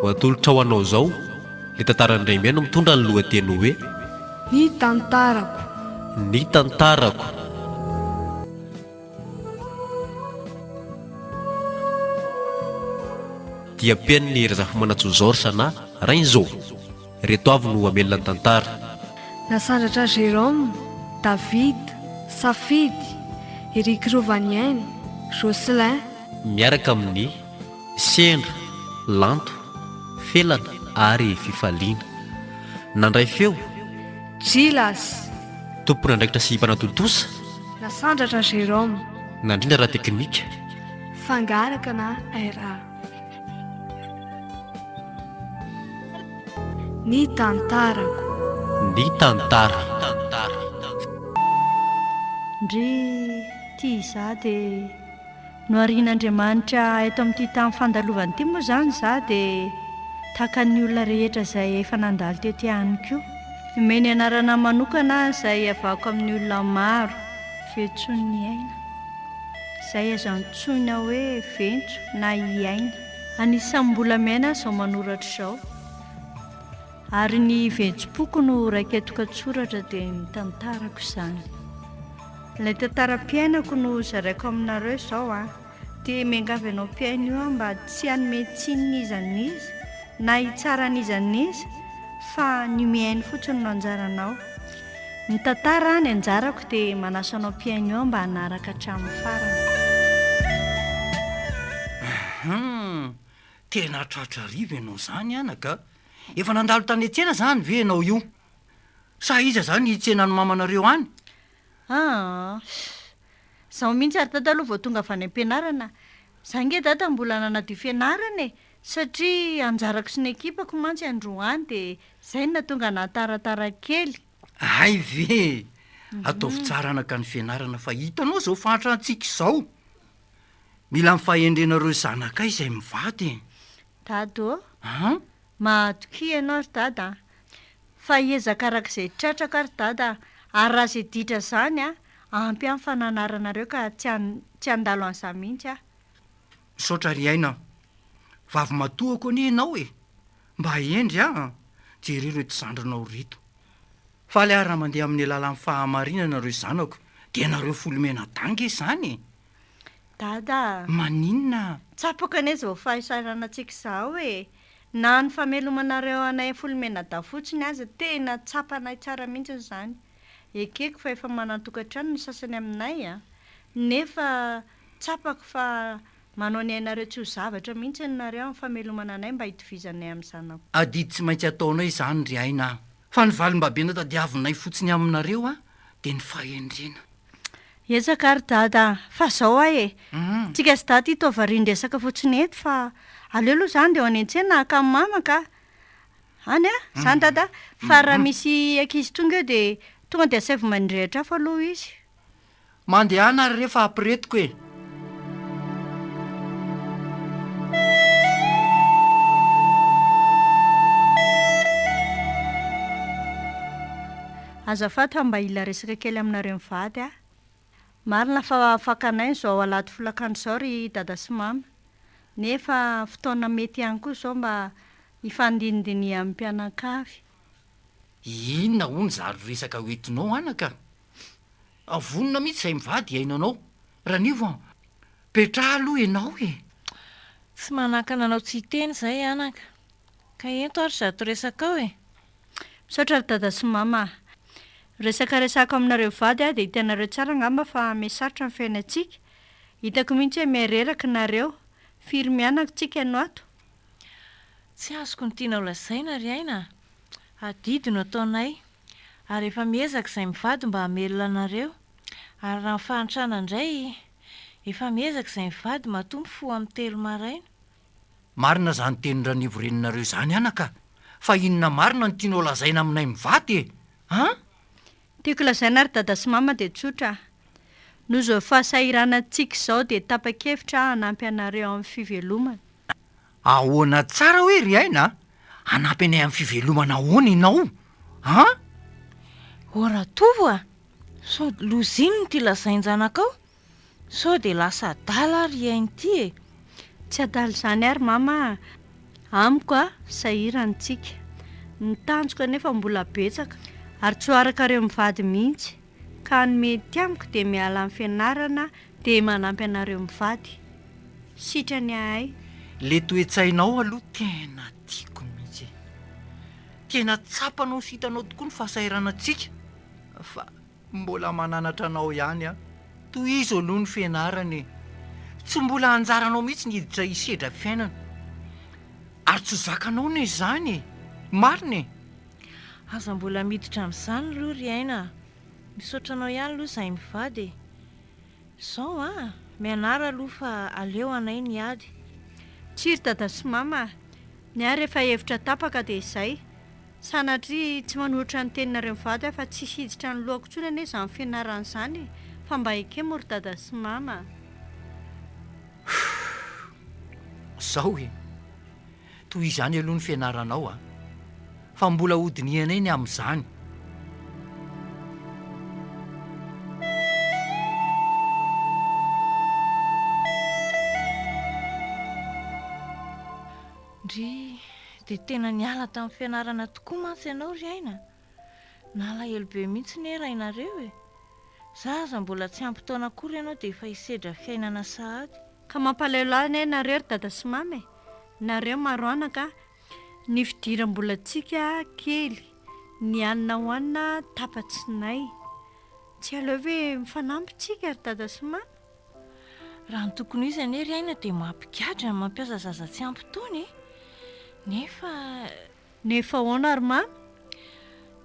Ho atolotrao anao izao ilay tantaran'i Raimiaina mitondra ny lohateny hoe. Ny tantarako. Ny tantarako. Diam-piainan'i Razafimanantsoa Georges na Rainzo. Reto avy no hamelona ny tantara. Nasandratra Jérôme, David, Safidy, Eric Rovaniaina, Jocelyn. Miaraka amin'ny, sendra, lanto, felana ary fifaliana. Nandray feo. Jilas. Tompon'andraikitra sy mpanatontosa. Nasandratra Jérôme. Nandrindra ara-teknika. Fangaraka na RA. Ny tantarako. Ny tantara. Ndry, ity izaho dia noharian'Andriamanitra eto amin'ity tany fandalovana ity moa izany izaho dia tahaka ny olona rehetra izay efa nandalo teto ihany koa. Nomey ny anarana manokana aho izay iavahako amin'ny olona maro, Fetsoniaina. Izay azo antsoina hoe ventso na hiaina. Anisan'ny mbola miaina aho izao manoratra izao, ary ny ventsom-poko no raiketika an-tsoratra dia ny tantarako izany. Ilay tantaram-piainako no zaraiko aminareo izao an! Dia miangavy anao mpihaino io aho mba tsy hanome tsiny n'iza n'iza na hitsara an'iza n'iza fa ny mihaino fotsiny no anjaranao. Ny tantara, ny anjarako dia manasa anao mpihaino eo mba hanaraka hatramin'ny farany. Hum, tena tratra arivo ianao izany anak a! Efa nandalo tany an-tsena izany ve ianao io? Sa iza izany hitsena ny mamanareo any? Aa, Zaho mihitsy ary dada aloha vao tonga avy any am-pianarana. Za ange dada mbola nanadio fianarana e! Satria anjarako sy ny ekipako mantsy androany dia zay no nahatonga nahataratara kely. Hay ve e! Ataovy tsara anaka ny fianarana fa hitanao izao fahantrantsika izao! Mila ny fahendrenareo zanakay izay mivady e! Dada ô! An? Mahatokia ianao ry Dada an! Fa hiezaka araka izay tratrako ary Dada a! Ary raha izay ditra izany an, ampy aho ny fananaranareo ka tsy han, tsy handalo an'izany mihitsy aho. Misaotra ry Aina an! Vavimatoako anie ianao e! Mba hendry aho an! Jereo ireto zandrinao ireto! Faly aho raha mandeha amin'ny alalan'ny fahamarinana ireo zanako, dia ianareo folo mena-danga izany e! Dada a! Maninona? Tsapako anie izao fahasahiranantsika izao e! Na ny famelomanareo anay Folomenadahy fotsiny aza tena tsapanay tsara mihitsy izany. Ekeko fa efa manan-tokantrano ny sasany aminay a! Nefa tsapako fa manao ny ainareo tsy ho zavatra mihitsy ianareo amin'ny famelomana anay mba hitovizanay amin'ny zanako. Adidy tsy maintsy ataonay izany ry Aina a! Fa ny valimbabena tadiavinay fotsiny aminareo a, dia ny fahendrena. Ezaka ry dada a! Fa zao a e! Tsika sy dada ito varian-dresaka fotsiny eto fa aleo aloha za ndeha any an-tsena haka an'i mama ka! Any a! Zany dada a! Fa raha misy ankizy tonga eo dia tonga dia asaivo mandrehitra afo aloha izy. Mandehana ary re fa ampiretiko e! Azafady fa mba hila resaka kely aminareo mivady aho. Marina fa fakanay izao alahady folakandro izao ry Dada sy Mama. Nefa fotoana mety ihany koa izao mba hifandinidinihan'ny mpianakavy. Inona hono zary resaka ho entinao anaka a? Vonona mihitsy izay mivady hihaino anao. Ranivo an! Petraha aloha ianao e! Tsy manakana anao tsy hiteny izay anaka. Ka ento ary izato resakao e! Misaotra ry dada sy mama a. Resaka resahako aminareo vady aho dia hitanareo tsara angamba fa ame sarotra ny fiainantsika. Hitako mihitsy hoe miha reraka nareo. Firy mianako tsika no ato? Tsy azoko ny tianao lazaina ry aina a. Adidy no ataonay. Ary efa miezaka izay mivady mba hamelona anareo. Ary raha ny fahantrana indray, efa miezaka izay mivady matoa mifoha amin'ny telo maraina. Marina zany tenin'i Ranivo reninareo zany ana ka! Fa inona marina no tianao lazaina aminay mivady e! An! Tiako lazaina ry dada sy mama dia tsotra, noho izao fahasahiranantsika izao dia tapa-kevitra aho hanampy anareo amin'ny fivelomana. Ahoana tsara hoe ry aina a! Hanampy anay amin'ny fivelomana ahoana ianao an! Ô Ratovo a! Sao loza inona ity lazain-janakao? Sao dia lasa adala ary i Aina ity e! Tsy adala izany ary Mama a! Amiko a! Sahirana tsika. Ny tanjoko anefa mbola betsaka ary tsy ho arakareo mivady mihitsy ka ny mety amiko dia miala amin'ny fianarana dia manampy anareo mivady. Sitrany ahay. Le toe-tsainao aloha tena tiako mihitsy e! Tena tsapanao sy hitanao tokoa ny fahasahiranantsika fa. Mbola mananatra anao ihany aho. Tohizo aloha ny fianarana e! Tsy mbola anjaranao mihitsy ny hiditra hisedra fiainana. Ary tsy zakanao na izany e! Marina e! Aza mbola miditra amin'izany aloha ry aina a! Misaotra anao ihany aloha izahay mivady e! Izao an! Mianara aloha fa aleo anay ny ady. Tsia ry dada sy mama a! Ny ahy rehefa hevitra tapaka dia izay. Sanatria tsy manohitra ny teninareo mivady aho fa tsy hiditra ny lohako intsony anie izany fianarana izany e! Fa mba ekemo ry dada sy mama a! Huhh! Zao e! Tohizany aloha ny fianaranao a! Fa mbola hodinihanay ny amin'izany. Ndrii, dia tena niala tamin'ny fianarana tokoa mantsy ianao ry Aina a! Nalahelo be mihitsy ny era ianareo e! Za aza mbola tsy ampy taona akory ianao dia efa hisedra fiainana sahady. Ka mampalahelo ahy anie nareo ry dada sy mama e! Nareo maro anaka, ny fidiram-bolantsika kely, ny anona ho anona tapatsinay. Tsy aleo ve mifanampy tsika ry dada sy mama? Raha ny tokony ho izy anie ry aina dia mampigadra ny mampiasa zaza tsy ampy taona e! Nefa. Nefa ahoana ry mama?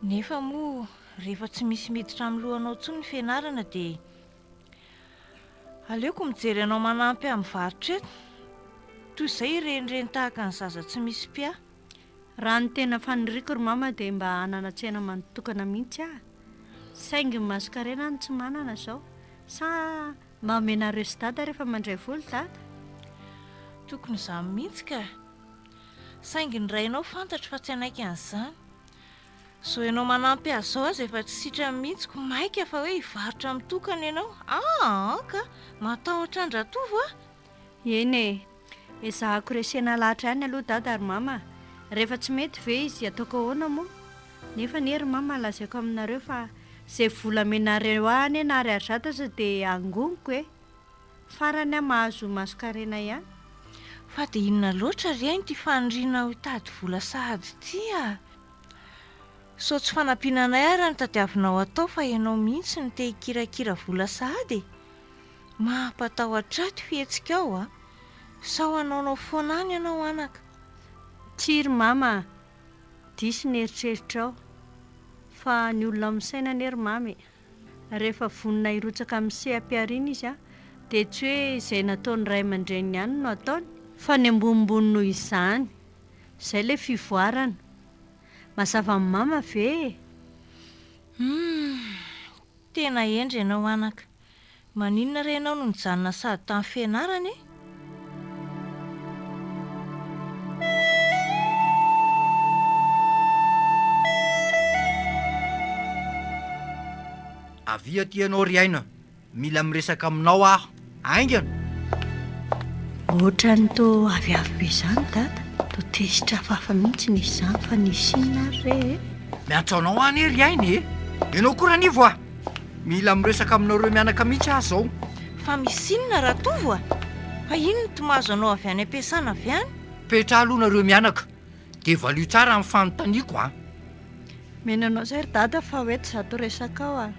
Nefa moa rehefa tsy misy miditra amin'ny lohanao intsony ny fianarana dia aleoko mijery anao manampy amin'ny varotra eto toy izay hirenireny tahaka ny zaza tsy misy mpiahy. Raha ny tena faniriako ry mama dia mba hanana tsena manotokana mihitsy aho, saingy ny masonkarena any tsy manana izao, sa mba omenareo sy dada rehefa mandray vola dada? Tokony izany mihitsy ka! Saingy ny rainao fantatro fa tsy hanaiky an'izany. Izao ianao manampy azy izao aza efa tsy sitrany mihitsy ko maika fa hoe hivarotra mitokana ianao, aa ka! Matahotra an-dRatovo aho! Eny e! Ezahako resena halatra ihany aloha dada ary mama a! Rehefa tsy mety ve izy ataoko ahoana moa? Nefa anie ry mama lazaiko aminareo fa izay vola amenareo ahy anie na ariary zato aza dia angoniko e! Farany aho mahazo masonkarena ihany. Fa dia inona loatra re an ity faniriana ho hitady vola sahady ity a! Sao tsy fanampiana anay ary no tadiavinao atao fa ianao mihitsy no te hikirakira vola sahady e! Mampatahotra ahy ty fihetsikao a! Sao hanaonao foana any ianao anaka? Tsia ry mama a! Diso ny eritreritrao. Fa ny olona misaina anie ry mama e! Rehefa vonona hirotsaka amin'ny seha-pihariana izy a! Dia tsy hoe izay nataon'ny ray aman-dreniny ihany no ataony? Fa ny ambonimbony noho izany! Izay ilay fivoarana! Mazava amin'ny mama ve e? Humm! Tena hendry ianao anaka! Maninona re ianao no nijanona sahady tamin'ny fianarana e? Avia aty ianao ry Aina, mila miresaka aminao aho. Haingana! Ohatran'ny toa aviavy be izany Dada, toa tezitra hafahafa mihitsy nisy izany fa nisy inona ary re e? Miantso anao any ry Aina e! Ianao koa Ranivo a! Mila miresaka aminareo mianaka mihitsy aho zao. Fa misy inona Ratovo a? Fa ino no tsy mahazo anao avy any am-piasana avy any? Petraha aloha nareo mianaka dia valio tsara ny fanontaniako an! Mino anao izay ry Dada fa ho eto izato resaka ao a!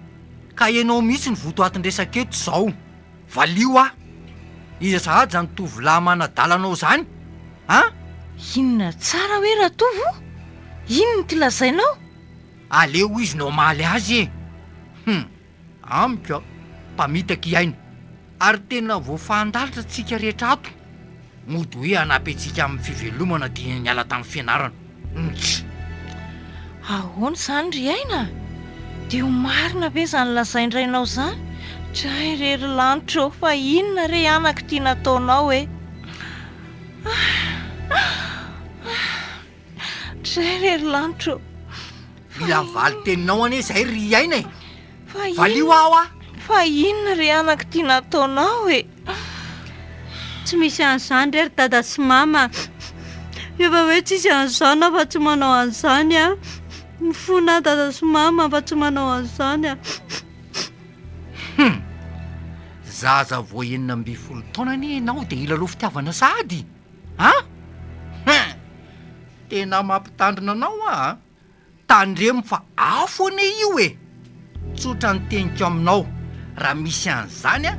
Ka ianao mihitsy no votoatin-dresaka eto izao. Valio a! Iza sahady izany tovolahy manadala anao izany an? Inona tsara hoe Ratovo? Inona ity lazainao? Aleo izy no hamaly azy e! Hum! Amiko aho, mpamitaka i Aina, ary tena voafahan-dalitra tsika rehetra ato, mody hoe hanampy antsika amin'ny fivelomana dia niala tamin'ny fianarana. Nts. Ahoana izany ry Aina? Dia ho marina ve izany lazain-drainao izany? Dray re ry lanitra ô, fa inona re anaka ity nataonao e! Ah! Ah! Ah! Zay re ry lanitra ô. Mila valin-teninao anie zay ry aina e. Valio aho a. Fa inona re anaka ity nataonao e. Tsy misy an'izany re ry dada sy mama. Efa hoe tsisy an'izao nao fa tsy manao an'izany a. Mifona aho dada sy mama fa tsy manao an'izany a. Zaza vao enina ambin'ny folo taona anie ianao dia hilalao fitiavana sahady? A! Hein! Tena mampitandrina anao aho a! Tandremo fa afo anie io e! Tsotra ny teniko aminao, raha misy an'izany a,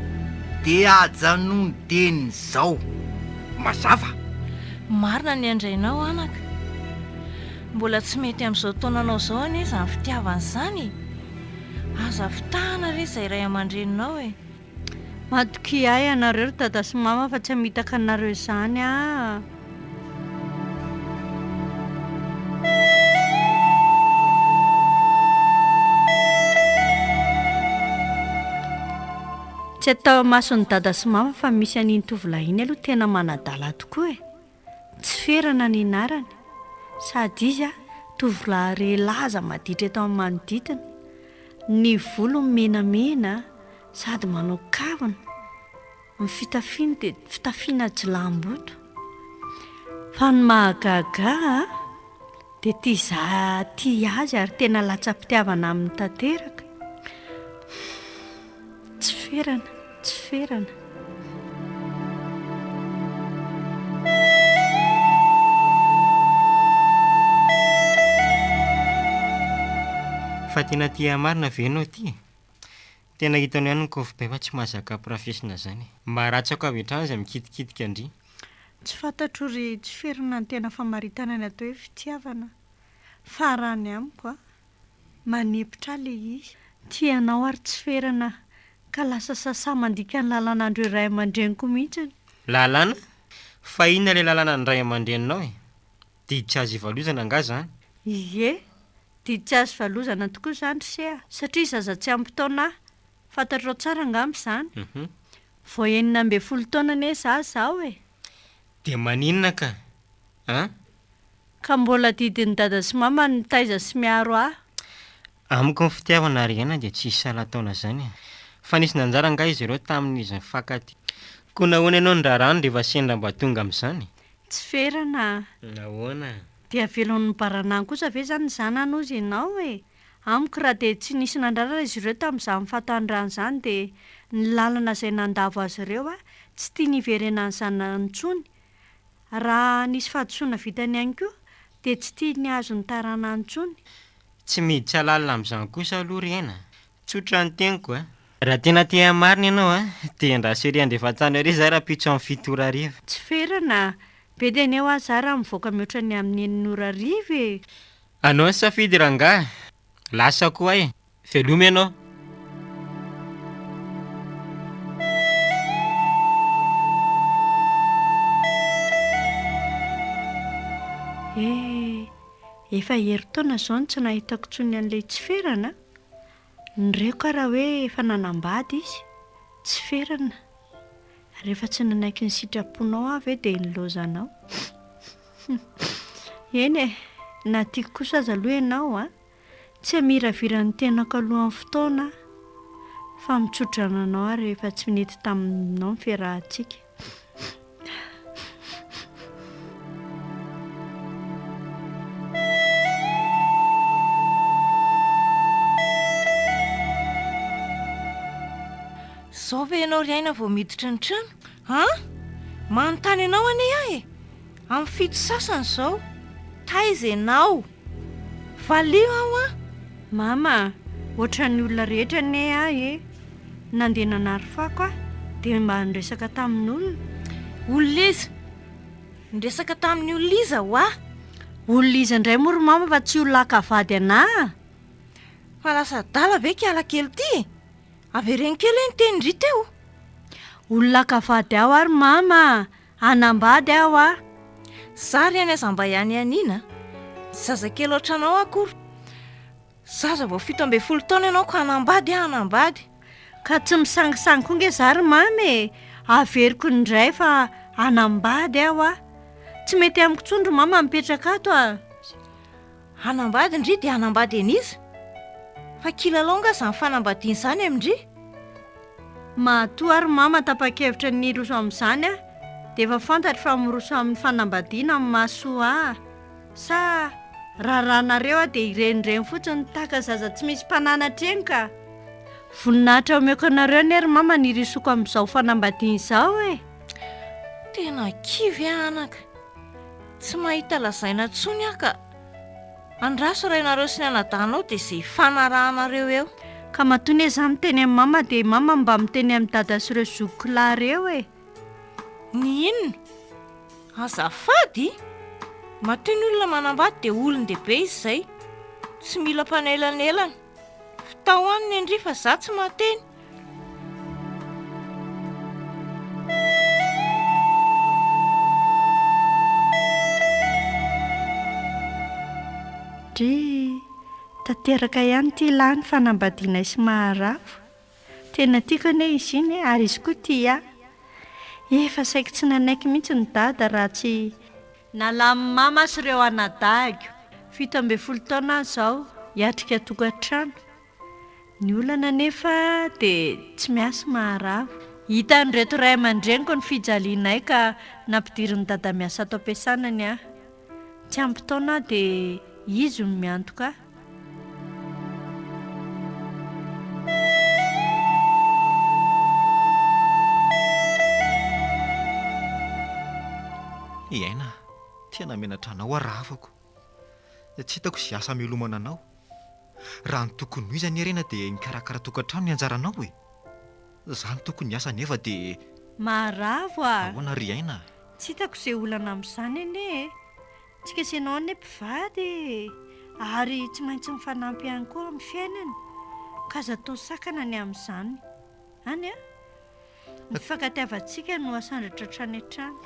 dia ajanony dieny izao. Mazava? Marina ny andrainao anaka. Mbola tsy mety amin'izao taonanao izao anie izany fitiavana izany e! Aza fitahana re izay ray aman-dreninao e! Matokia ahy ianareo ry dada sy mama fa tsy hamitaka anareo izany aho. Tsy atao imason'ny dada sy mama fa misy an'iny tovolahy iny aloha tena manadala tokoa e. Tsy ferana ny anarany, sady izy tovolahy re laza maditra eto amin'ny manodidina, ny volony menamena sady manao kavina, ny fitafiany dia fitafiana jilamboto. Fa ny mahagaga an! Dia tia izaho tia azy ary tena latsa-pitiavana aminy tanteraka. Tsy ferana, tsy ferana. Fa tena tia marina ve ianao ity? Tena hitanao ihany ny kofobay fa tsy mahazaka amporafesina zany e. Mba ratsako avy hatrany zay mikitikitika ndry. Tsy fantatro ry Tsiferina ny tena famaritana ny atao hoe fitiavana fa raha ny amiko a! manipitra ahy le izy. Tia anao aho ry Tsiferina ka lasa sasa mandika ny lalan'andro iray aman-dreniko mihitsiny. Lalana? Fa inona ilay lalanan'ny ray aman-dreninao e? Diditra azy ivalozana angaha izany? Ie, diditra azy ivalozana tokoa izany ry Sea, satria zaza tsy ampy taona aho. Fantatrao tsara angamba izany? Vao enina ambin'ny folo taona anie zaza aho e! Dia maninona ka an? Ka mbola didin'i Dada sy Mama ny mitaiza sy miaro ahy. Amiko ny fitiavana ry aina dia tsy hisy sahala taona izany e! Fa nisy nanjara angaha izy ireo tamin'izy nifankatia? Koa nahoana ianao no niraharaha ny rehefa sendra mba tonga amin'izany? Tsy ferana a! Nahoana? Dia velon'ny baranany kosa ve izany ny zanany hozy ianao e? Amiko raha dia tsy nisy nandrara izy ireo tamin'izany fahatandràny izany dia ny lalana izay nandavo azy ireo a! Tsy tiany hiverena ny zanany intsony. Raha nisy fahadisoana vitany ihany koa dia tsy tiany hahazo ny taranany intsony. Tsy miditra lalina amin'izany kosa aloha rena. Tsotra ny teniko a. Raha tena te hamarina ianao a, dia andraso ery andrefantsano ery zara pitso amin'ny fito ora hariva. Tsy ferana a! Be dia neo aho zara mivoaka mihoatra ny amin'ny enina ora hariva e! Anao ny safidy rangahy! Lasa koa hay! Veloma ianao! Eh! Efa herintaona izao no tsy nahitako intsony an'ilay tsy ferana a! Ny reko ary raha hoe efa nanambady izy, tsy ferana, rehefa tsy nanaiky ny sitraponao aho ve dia nilaozanao? Hum, eny e, na tiako kosa aza aloha ianao an, tsy hamiravira ny tenako alohan'ny fotoana aho, fa mitso-drano anao aho rehefa tsy nety taminao ny fiarahantsika. Zao ve ianao ry aina vao miditra ny trano? Ha? Manontany anao anie aho e. Amin'ny fito sasany izao. Taiza ianao? Valio aho an! Mama, ohatran'ny olona rehetra anie aho e! Nandeha nanary fako aho, dia mba niresaka tamin'olona. Olona iza? Niresaka tamin'ny olona iza ho'a? Olona iza indray moa ry Mama fa tsy io laka vady anà? Fa lasa adala ve ity ala kely ity e? Avereno kely hoe niteny ry teo! Olona laka vady aho ary Mama! Hanambady aho a! Za re any aza mba hianianiana a! Zaza kely ohatranao aho akory, zaza vao fito ambin'ny folo taona ianao ka hanambady a! Hanambady! Ka tsy misangisangy koa ange za ry Mamy e! Averiko indray fa hanambady aho a! Tsy mety amiko intsony ry Mama ny mipetraka ato a! Hanambady ndry dia hanambady an'iza? Fa kilalao nga zany fanambadiana zany e mndry? Matoa ary mama tapa-kevitra ny hiroso amin'izany aho dia efa fantatro fa miroso amin'ny fanambadiana ny maso aa! Sa raharahanareo aho dia ireny ireny fotsiny ny tahaka zaza tsy misy mpananatra eny ka! Voninahitra omeko anareo anie ry mama ny hirisoko amin'izao fanambadiana izao e! Tena kivy aho anaka! Tsy mahita lazaina tsony aho ka. Andraso ray nareo sy ny anadahinao dia ze ifanarahanareo eo. Ka matoa ne za miteny am mama de i mama mba miteny am dada sy reo zokiko lahy reo e. Ny inona? Azafady? Matoa ny olona manambady dia olon-dehibe izy izay. Tsy mila mpanelanelana. Tao any ndry fa za tsy mahateny. Dry, tanteraka ihany ity lahy ny fanambadianay sy Maharafo. Tena tiako anie izy iny e, ary izy koa tia ahy. Efa saiky tsy nanaiky mihitsy ny dada raha tsy. Nalamin'i mama sy ireo anadahiko. Fito ambin'ny folo taona aho izao, hiatrika tokantrano. Ny olana anefa dia tsy miasa maharary. Hitan'ireto ray aman-dreniko ny fijalianay ka nampidirin'i dada miasa ato am-piasana ny ahy. Tsy ampy taona aho dia izy no miantoka ahy. I Aina, tena menatra anao aho raha afako. Tsy hitako izay asa hamelomana anao. Raha ny tokony ho izy anie re na dia ny mikarakara tokantrano ny anjaranao e! Zany tokony hiasa nefa dia. Maharavo a! Ahoana ry aina a! Tsy hitako izay olana amin'izany anie e! Tsy kay sy ianao anie mpivady e! Ary tsy maintsy mifanampy ihany koa amin'ny fiainana ka aza atao sakana ny amin'izany any a! Ny fifankatiavantsika no asandratra hatrany hatrany.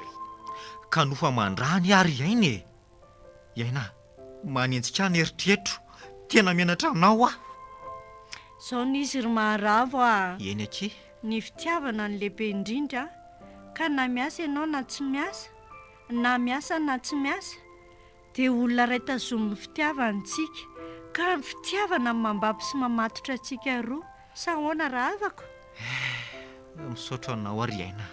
Ka nofa mandrà anie ary i aina e! I aina a! Manenjika an eritreritro tena menatra anao aho. Zao ny izy ry maharavo a! Eny aky. Ny fitiavana no lehibe indrindra ka na miasa ianao na tsy miasa, na miasa na tsy miasa dia olona iray tazomin'ny fitiavany tsika ka ny fitiavana no mambabo sy mamatotra antsika roa. Sa ahoana rahavako? Eh, misaotra anao ary aina.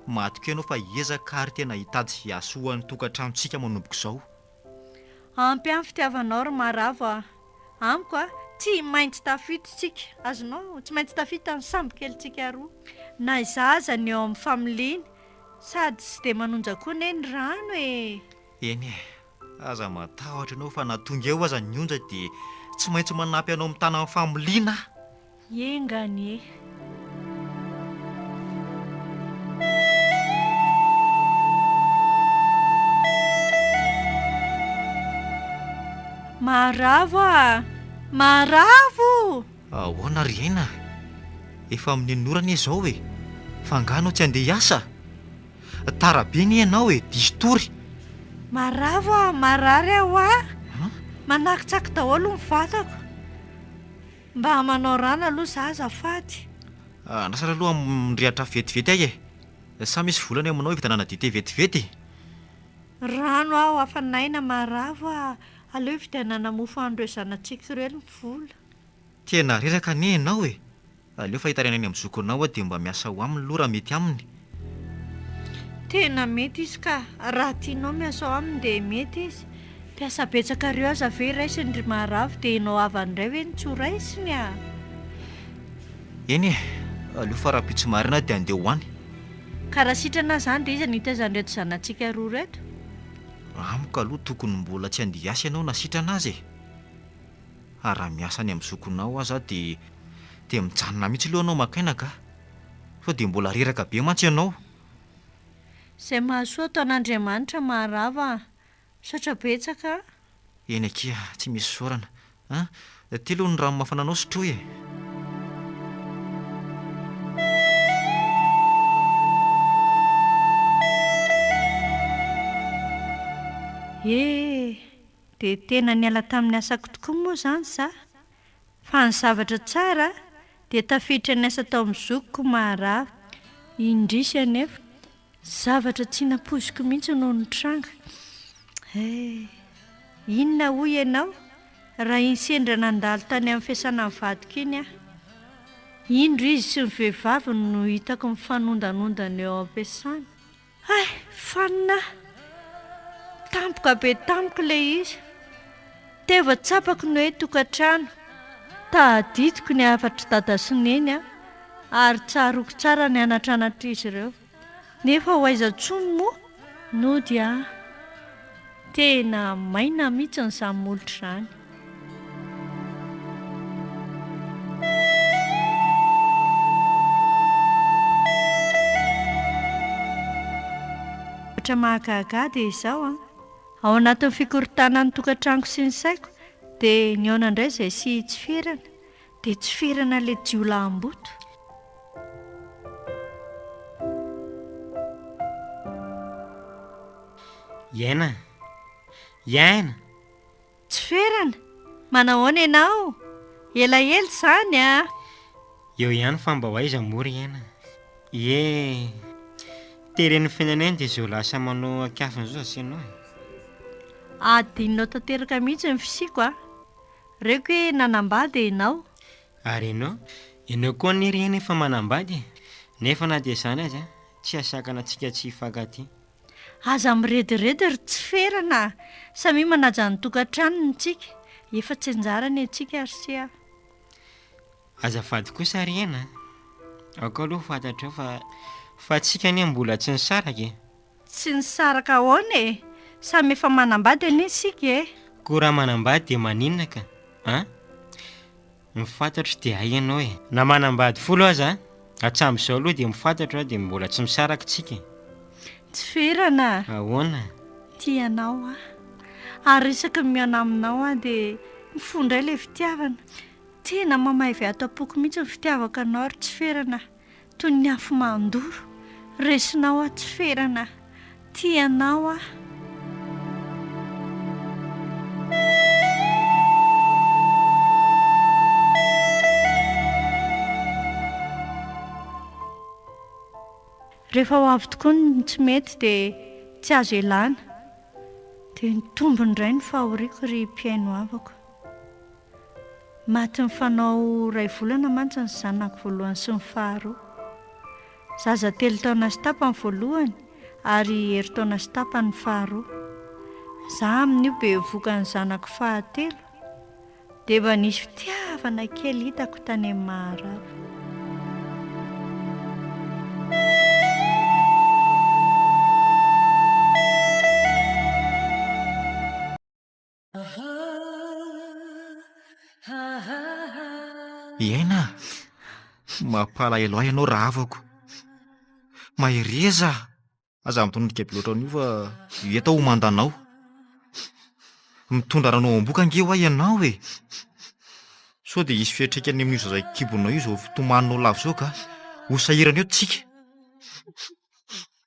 Madika ianao fa hiezaka ary tena hitady izay hahasoa ny tokantranontsika manomboka izao. Ampy amin'ny fitiavanao ry Maravo a! Amiko a, tsy maintsy tafita isika, azonao? Tsy maintsy tafita ny sambo kelintsika roa. Na izaho aza ny eo amin'ny familiana. Sady tsy dia manonja koa anie ny rano e! Eny e, Aza matahotra ianao fa na tonga eo aza ny onja dia tsy maintsy manampy anao mitana amin'ny familiana aho. Enga anie. Maharavo ah! Maharavo! Ahoana ry Aina? Efa amin'ny an'ny ora anie izao e! Fa angaha ianao tsy handeha hiasa? Tara be anie ianao e, diso tory. Marary hoa, marary aho hoa. Manakitsaky daholo ny vatako. Mba manao rano aloha za azafady. Andrasana aloha mirehatra vetivety ahy e. Sa misy vola ny aminao hividanana dite vetivety? Rano aho hafanaina, marary hoa. Aleo hividianana mofo hanindroe zanatsika ireo ny vola. Tena reraka anie ianao e! Aleo fa hitaraina eny amin'ny zokinao aho dia mba miasa ao aminy aloha raha mety aminy. Tena mety izy ka! Raha tianao miasa ao aminy dia mety izy. Mpiasa betsaka ireo aza ve raisiny ry Maharavo dia ianao havany indray ve no tsy ho raisiny a! Eny e! Aleo fa rahampitso maraina aho dia handeha ho any. Ka raha sitrana izany dia iza no hitaiza an'ireto zanatsika roa ireto? Amiko aloha tokony mbola tsy handeha hiasa ianao na sitrana aza e! ary raha miasa any amin'ny zokinao aza dia dia mijanona mihitsy aloha ianao maka aina kah! Sao dia mbola reraka be mantsy ianao? Izay mahasoa ataon'Andriamanitra maharava an! Misaotra betsaka an! Eny akia, tsy misy fisaorana. An! Ty aloha ny rano mafananao sotroy e! Ee! Dia tena niala tamin'ny asako tokoa moa izany za. Fa ny zavatra tsara dia tafiditra ny asa tao amin'ny zokiko maharava. Indrisy anefa, zavatra tsy nampoiziko mihitsy no nitranga. Eh, inona hoy ianao raha iny sendra nandalo tany amin'ny fiasanan'ny vadiko iny aho? Indro izy sy ny vehivaviny no hitako mifanondanondana eo am-piasana. Hay! Fanina aho! Tampoka be tamiko ilay izy. Teo vao tsapako ny hoe tokantrano. Tadidiko ny hafatr'i Dada sy Neny aho, ary tsaroako tsara ny anatranat'izy ireo. Nefa ho aiza intsony moa? Nody an! Tena maina mihitsy izany molotra izany. Zavatra mahagaga ahy dia izao an! Ao anatin'ny fikorontanan'ny tokantranoko sy ny saiko dia nihaona indray izay sy tsy ferana, dia tsy ferana ilay jiolahimboto. Iainana! Iainana! Tsy ferana! Manahoana ianao? Elaela izany a! Eo ihany fa mba ho aiza moa ry aina? Ie! Teren'ny fiainanay dia izao lasa manao an-kiafina izao sasa ianao e! Adinonao tanteraka mihitsy ny fisiako a! Reiko hoe nanambady ianao! Ary ianao? Ianao koa anie ry aina efa manambady e! Nefa na dia izany aza, tsy hahasakana antsika tsy hifankatia. Aza mirediredy ry tsy ferana a! Samia manaja ny tokantranony tsika, efa tsy anjara anie tsika ry se a! Azafady kosa ry ena a! Aoka aloha ho fantatrao fa fa tsika anie mbola tsy nisaraka e! Tsy nisaraka ahoana e! Samy efa manambady anie isika e! Koa raha manambady dia maninona ka a! Ny fantatro dia hay ianao e. Na manambady folo aza hatramizao aloha dia mifantatro a dia mbola tsy misaraka tsika e. Tsy ferana a! Ahoana? Tia anao aho. Ary isaky ny mihaona aminao aho dia mifo indray ilay fitiavana. Tena mamaivay ato am-poko mihitsy ny fitiavako anao ry tsy ferana a. Toy ny afo mandoro resinao aho tsy ferana tia anao aho. Rehefa ho avy tokoa ny tsy mety dia tsy azo ialana, dia ny tombony indray ny fahoriako ry mpihaino havako. Maty nifanao iray volana mantsy ny zanako voalohany sy ny faharoa. Zaza telo taona sy tapany voalohany ary herintaona sy tapany ny faharoa. Izaho amin'io bevohoka ny zanako fahatelo dia mba nisy fitiavana kely hitako tany amin'ny maha rava. Iaina a! Mampalahelo ahy ianao rahavako. Mahereza a! Aza mitonitika be loatra an'io fa io eto aho ho manda anao. Mitondra rano ao am-bohoka ange ho'a ianao e! Sao dia hisy fiantraikany amin'io zazakibonao io izao fitomananao lavo izao ka! Ho sahirana eo tsika.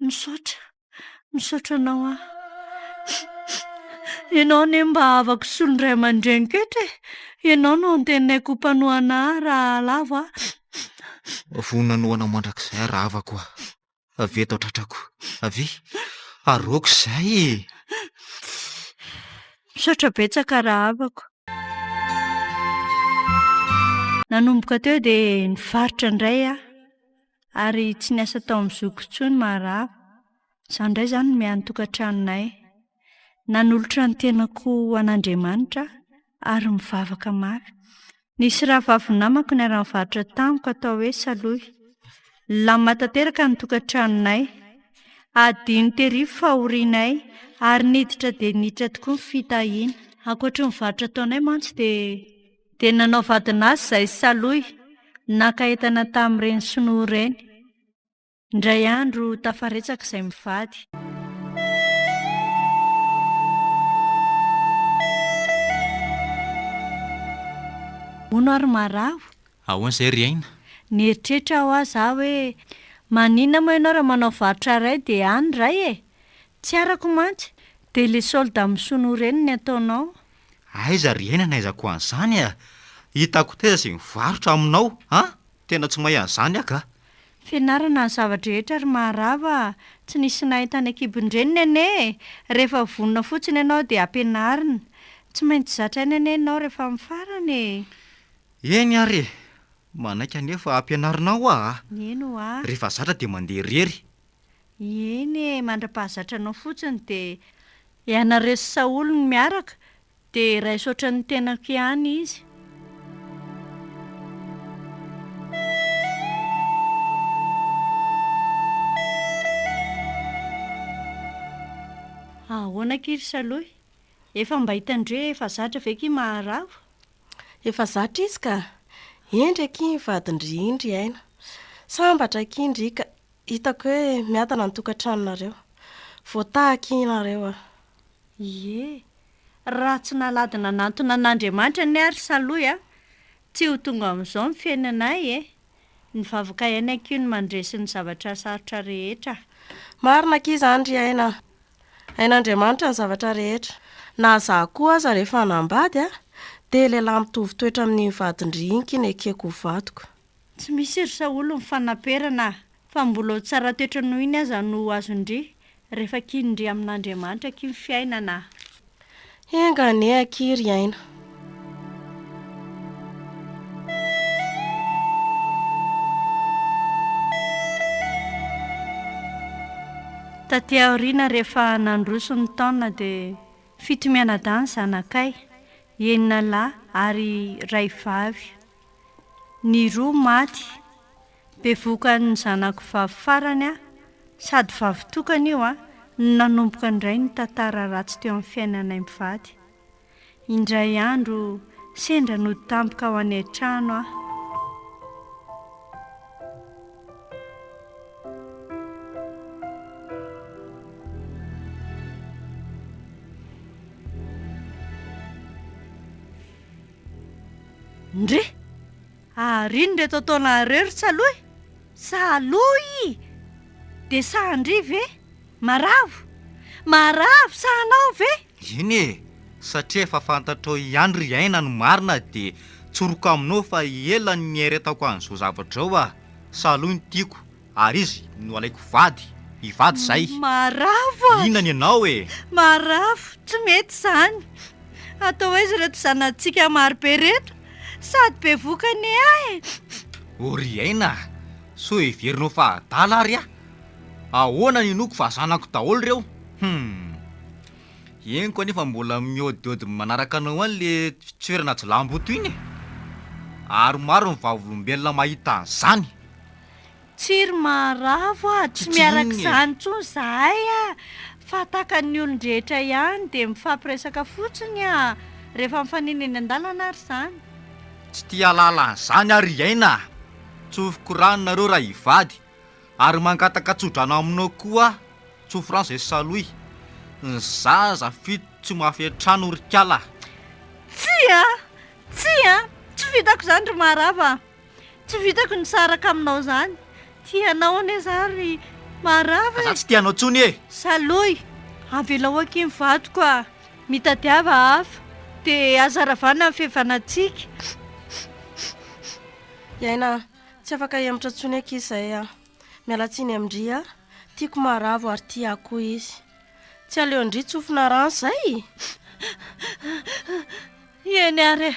Misaotra, misaotra anao an. Ianao anie mba havako sy ny ray aman-dreniko eto e. Ianao no antenaiko ho mpanohana ahy raha lavo an. Vonona hanohana mandrakizay aho raha havako an. Avia eto an-tratrako. Avia. Aroako izay e. Misaotra betsaka raha havako. Nanomboka teo dia nivarotra indray aho. ary tsy niasa tao amin'ny zoky intsony Maharava. Izaho indray izany nomey ny tokantranonay. Nanolotra ny tenako ho an'Andriamanitra aho ary mivavaka mafy. Nisy rahavavy namako niara-nivarotra tamiko atao hoe Salohy. Nilamina tanteraka ny tokantranonay. Hadino tery ny fahorianay ary niditra dia niditra tokoa ny fitahiana. Ankoatry ny varotra ataonay mantsy dia Dia nanao vadin'asa izahay sy Saloy naka entana tamin'ireny sinoa ireny. Indray andro tafaretsaka izahay mivady. Hono ary maraho? Ahoana izay ry Aina? Nieritreritra hoa izaho hoe, maninona moa ianao raha manao varotra iray dia any iray e? Tsy arako mantsy, dia ilay solde amin'ny sinoa ireny ny ataonao. Aiza ry aina n'aiza ko an'zany a! Hitako taiza sy mivarotra aminao a! Tena tsy mahay an'zany aho ga! Fianarana ny zava-drehetra ry Maharava a! Tsy nisy nahay tany an-kibon-dreniny anie e! Rehefa vonona fotsiny ianao dia ampianarina. Tsy maintsy zatraina anie ianao rehefa amin'ny farany e! Eny ary e! Manaiky anie fa ampianarinao aho a! Eny hoa! Rehefa zatra dia mandeha irery. Eny e, mandra-pahazatranao fotsiny dia. Ianareo sy Saoly no miaraka, dia raiso ohatran'ny tenako ihany izy. Ahoana akia ry Salohy? Efa mba hitan-dry hoe efa zatra ve akia Maharavo? Efa zatra izy ka! Hendry akia ny vadin-dry indry aina. Sambatra akia ndry ka! Hitako hoe miadana ny tokantranonareo. Voatahaky ianareo aho. Ie, raha tsy nalady nanantona an'Andriamanitra anie aho ry Salohy a! Tsy ho tonga amin'izao ny fiainanay e! Ny vavaka ihany ankiho no mandresy ny zavatra sarotra rehetra. Marina akia izany ry Aina a! Hain'Andriamanitra ny zavatra rehetra. Na izaho koa aza rehefa hanambady a, dia lehilahy mitovy toetra amin'iny vadin-dry iny ky no ekeko ho vadiko. Tsy misy ry Saolo ny fanaperana fa mbola ho tsara toetra noho iny aza no ho azon-dry rehefa kinon-dry amin'Andriamanitra akia ny fiainana. Enga anie akia ry aina. Taty aoriana rehefa nandroso ny taona dia fito mianadahy ny zanakay, enina lahy ary iray vavy. Ny roa maty. Bevohoka ny zanako vavy farany aho, sady vavy tokana io an, no nanomboka indray ny tantara ratsy teo amin'ny fiainanay mivady. Indray andro, sendra nody tampoka ao any an-trano aho. Ndry! Ary iny reto ataonareo ry Salohy? Salohy! Dia sahan-dry ve? Maravo! Maravo! Sahanao ve? Eny e! Satria efa fantatrao ihany ry Aina ny marina dia tsoriko aminao fa ela no niaretako an'izao zavatra izao aho. Salohy ny tiako Ary izy no alaiko vady, hivady izay. Maharavo ary! Inona ny anao e? Maharavo, tsy mety izany. Atao aiza ireto zanatsika marobe ireto? Sady bevoka anie aho e! O ry aina, sao heverinao fa adala ary aho? Ahoana ny hinoako fa zanako daholo ireo? Hum! Henoko anefa mbola mihaodihaody manaraka anao any le fitoerana jilamboto iny e! Ary maro ny vavolombelona mahita an'izany. Tsiry maharavo a! Tsy miaraka izany intsony izahay a! Fa tahaka ny olon-drehetra ihany dia mifampiresaka fotsiny a! Rehefa mifanena eny an-dalana ary izany. Tsy tia hahalala an'izany ary i Aina a! Tsofiko rano nareo raha hivady ary mangataka tsodrano aminao koa aho, tsofrano izay saloy. Ny zaza fito tsy mahafehy trano ry kala a! Tsia a! Tsia a! Tsy vitako izany ry maharavo a! Tsy vitako ny misaraka aminao zany. Tia anao anie za ry Marary e! Fa za tsy tia anao tsony e! Salohy, avelao akia ny vadiko a! Mitadiava hafa, de aza ravana ny fihavanantsika. Iaina a! Tsy afaka hihemotra tsony akia izay a! Miala tsiny amin-dry a! Tiako Maravo ary tia ahy koa izy. Tsy aleon-dry tsofina rano izay? Iany ary e!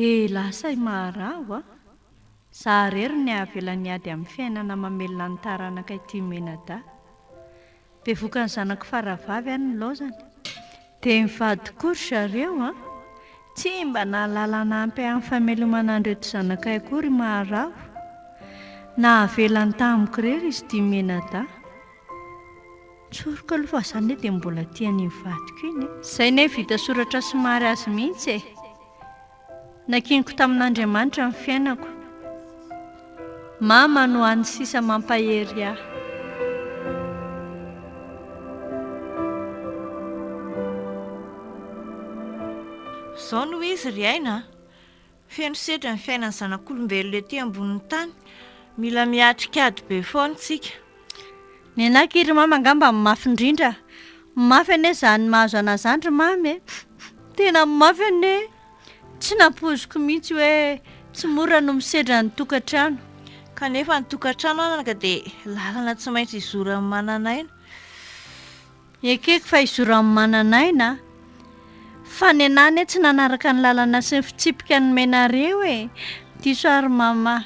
Dia lasa i Mahara aho a! Za irery ny ahavela ny ady amin'ny fiainana mamelona ny taranaka ity mianadahy. Bevokan'ny zanako faravavy any ny laozany. Dia mivady koa ry zareo an! Tsy mba nahalala hanampy ahy amin'ny famelomana an'ireto zanakay akory i Maharaho. Nahavelany tamiko irery izy ity mianadahy. Tsoriko aloha fa za anie dia mbola tia an'iny vadiko iny e! Izay anie vita soratra somary azy mihitsy e! Nakiniko tamin'Andriamanitra ny fiainako. Mama no any sisa mampahery ahy. Izao no izy ry aina a! Feno sedra ny fiainan'ny zanak'olombelona ety ambonin'ny tany. Mila miatrika ady be foana isika. Nenaka i ry Mamy angamba no mafy indrindra. Mafy anie izany mahazo anà zany ry Mamy e! Tena mafy anie! Tsy nampoiziko mihitsy hoe tsy mora no misedra ny tokantrano. Kanefa ny tokantrano anaka dia lalana tsy maintsy izoran'ny manan'aina. Ekeko fa izoran'ny manan'aina an! Fa nenà anie tsy nanaraka ny lalana sy ny fitsipika nomenareo e! Diso aho ry Mamy a!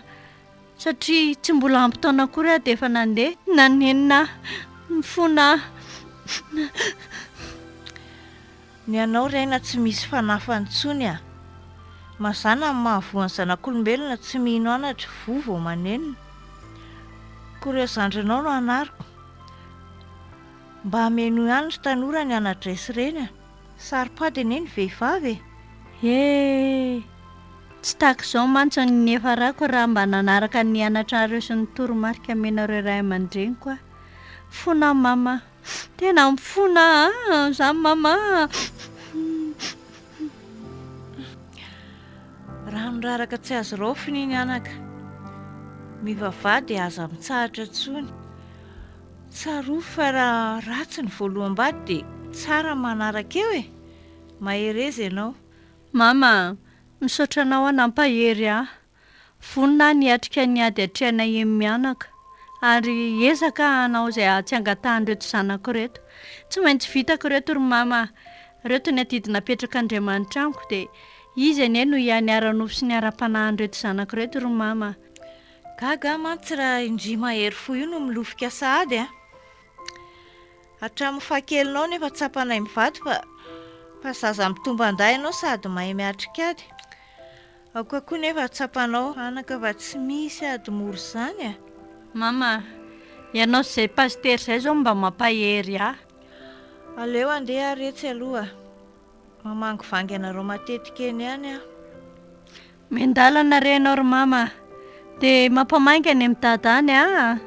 satria tsy mbola ampy taona akory aho dia efa nandeha, nanenina ahy, nifona aho. Ny anao ry aina tsy misy fanafany intsony a! Mazàna ny mahavoa ny zanak'olombelona tsy mino anatra, voa vao manenina. Koa ireo zandrinao no hanariko. Mba hameno ihany ry tanora ny anadresy ireny a! Saropady anie ny vehivavy e! He! Tsy tahak'izao mantsy ny niafarako raha mba nanaraka ny anatrareo sy ny toromarika amenareo ray aman-dreniko aho. Fona mama. Tena mifona aa za mama aa. Raha ny raraka tsy azo raofina iny anaka. Mivavaha dia aza mitsahatra intsony. Tsarovy fa raha ratsy ny voaloham-bady dia tsara ny manaraka eo e! Mahereza ianao. Mama a! Misaotra anao a nampahery ahy. Vonona aho ny hiatrika ny ady atrehanay eny mianaka. Ary hiezaka aho hanao izay haha tsy angatahan'ireto zanako ireto. Tsy maintsy vitako ireto ry Mama a! Ireto ny adidy napetrak'Andriamanitra amiko dia Izy anie no hianiara-nofo sy niara-panahin'ireto zanako ireto ry Mama a! Gaga aho mantsy raha i Ndry mahery fo io no milofika sahady a! Hatramin'ny fahakelinao no efa tsapanay mivady fa fa zaza mitomban-dahy ianao sady mahay miatrika ady. Aoka koa nefa tsapanao anaka fa tsy misy ady mora izany a! Mama, ianao sy izay pasitera izay izao no mba mampahery ahy. Aleo andeha ary etsy aloha, mamangivangy anareo matetika eny ihany aho. Mendala na re ianao ry mama a! Dia mampamainga any amin'i dada any aa!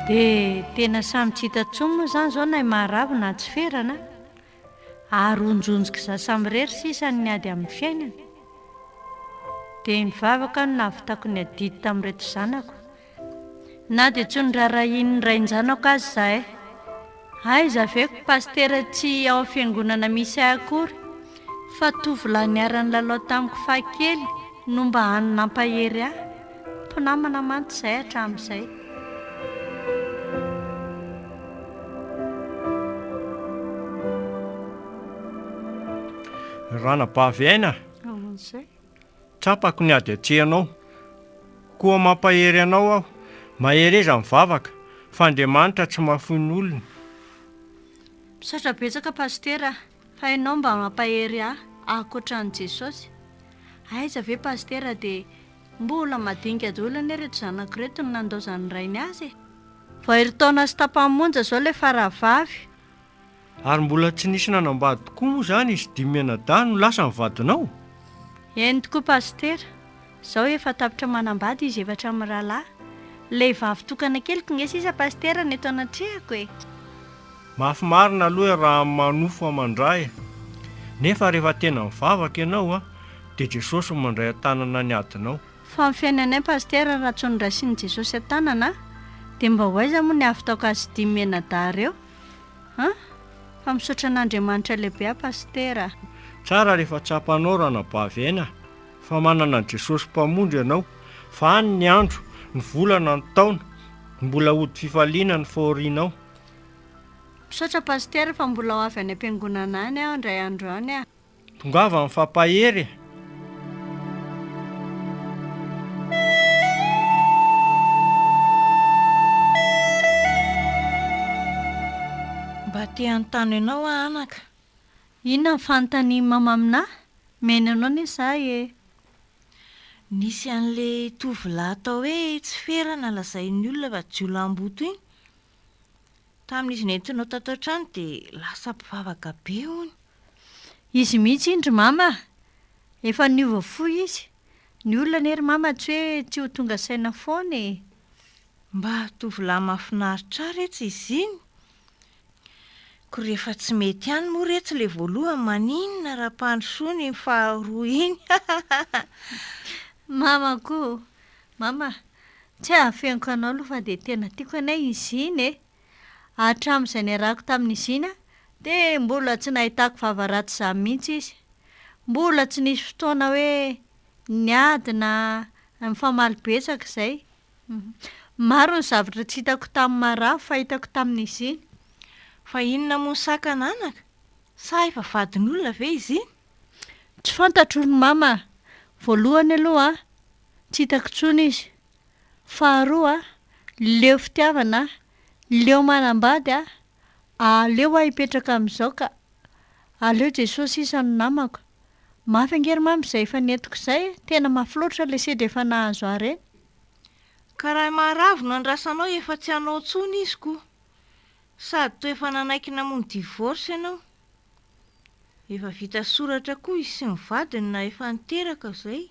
Dia tena samy tsy hita intsony moa izany izao na i Maharavo na Antsiferana a! Ary onjonjik'izaho samirery sisa ny ady amin'ny fiainana! Dia nivavaka aho no nahavitako ny adidy tamin'ireto zanako Na dia tsy noraharahian'ny rain-janako aza izahay. Aiza ve ko pasitera tsy ao amin'ny fiangonana misy ahy akory, fa tovolahy niara-nilalao tamiko faha kely no mba hany nampahery ahy. Mpinamana mantsy izahay hatramin'izay. Ranabavy Aina. Tsapako ny ady atrehanao. Koa mampahery anao aho. Mahereza mivavaka, fa Andriamanitra tsy mahafoy ny olony. Misaotra betsaka Pasitera fa ianao mba mampahery ahy ahakoatran'i Jesosy. Aiza ve Pasitera dia mbola madinika daholo anie ireto zanako ireto no nandaozan'ny rainy azy e. Vao herintaona sy tapany monja izao ilay faravavy. Ary mbola tsy nisy nanambady tokoa moa izany izy dimy mianadahy no lasa ny vadinao? Eny tokoa Pasitera, izao efa tapitra manambady izy efatra mirahalahy. Ilay vavy tokana keliko nge sisa Pasitera no eto anatrehako e! Mafy marina aloha e raha manofo aman-dra e! Nefa rehefa tena mivavaka ianao dia Jesosy no mandray an-tanana ny adinao. Fa ny fiainanay Pasitera raha tsy noraisin'i Jesosy an-tanana dia mba ho aiza moa ny havitao kazidi mianadahy reo an! Fa misaotra an'Andriamanitra lehibe aho Pasitera. Tsara rehefa tsapanao ranabavy aina a! Fa manana an'i Jesosy mpamonjy ianao, fa any ny andro, ny volana, ny taona, mbola hody fifaliana ny fahorianao. Misaotra Pasitera fa mbola ho avy any am-piangonana any aho indray andro any a! Tongava mifampahery e! Mba te hanontano ianao aho anaka. Inona ny fanontanian'i Mama aminà? Mihaino anao anie izaho e! Nisy an'ilay tovolahy atao hoe Tsy ferana lazain'ny olona fa jiolahim-boto iny. Tamin'izy nentinao tato an-trano dia lasa mpivavaka be hono. Izy mihitsy iny ry Mama a! Efa niova fo izy. Ny olona anie ry Mama tsy hoe tsy ho tonga saina foana e! Mba tovolahy mahafinaritra ahy retsy izy iny! Ko rehefa tsy mety ihany moa retsy ilay voalohany maninona raha ampandrosoina iny faharoa iny? Mamako o! Mama, tsy hahafeniko anao aloha fa dia tena tiako anie i Zina e! Hatramin'izay niarahako tamin'i Zina dia mbola tsy nahitako vava ratsy izany mihitsy izy. Mbola tsy nisy fotoana hoe niady na nifamaly betsaka izay. Maro ny zavatra tsy hitako tamin'i Maravo fa hitako tamin'i Zina. Fa inona moa ny sakana anaka? Sa efa vadin'olona ve i Zina? Tsy fantatro ry mama a! Voalohany aloha a, tsy hitako intsony izy. Faharoa a, leo fitiavana a! Leo manambady a! Aleo aho hipetraka amin'izao ka! Aleo Jesoa sisa no namako. Mafy ange ry mama izay efa nentiko izay e! Tena mafy loatra ilay sedra efa nahazo ahy ireny. Ka raha i Maharavo no andrasanao efa tsy hanao intsony izy koa! Sady toa efa nanaiky namono divorce ianao. Efa vita soratra koa izy sy ny vadiny na efa niteraka izay.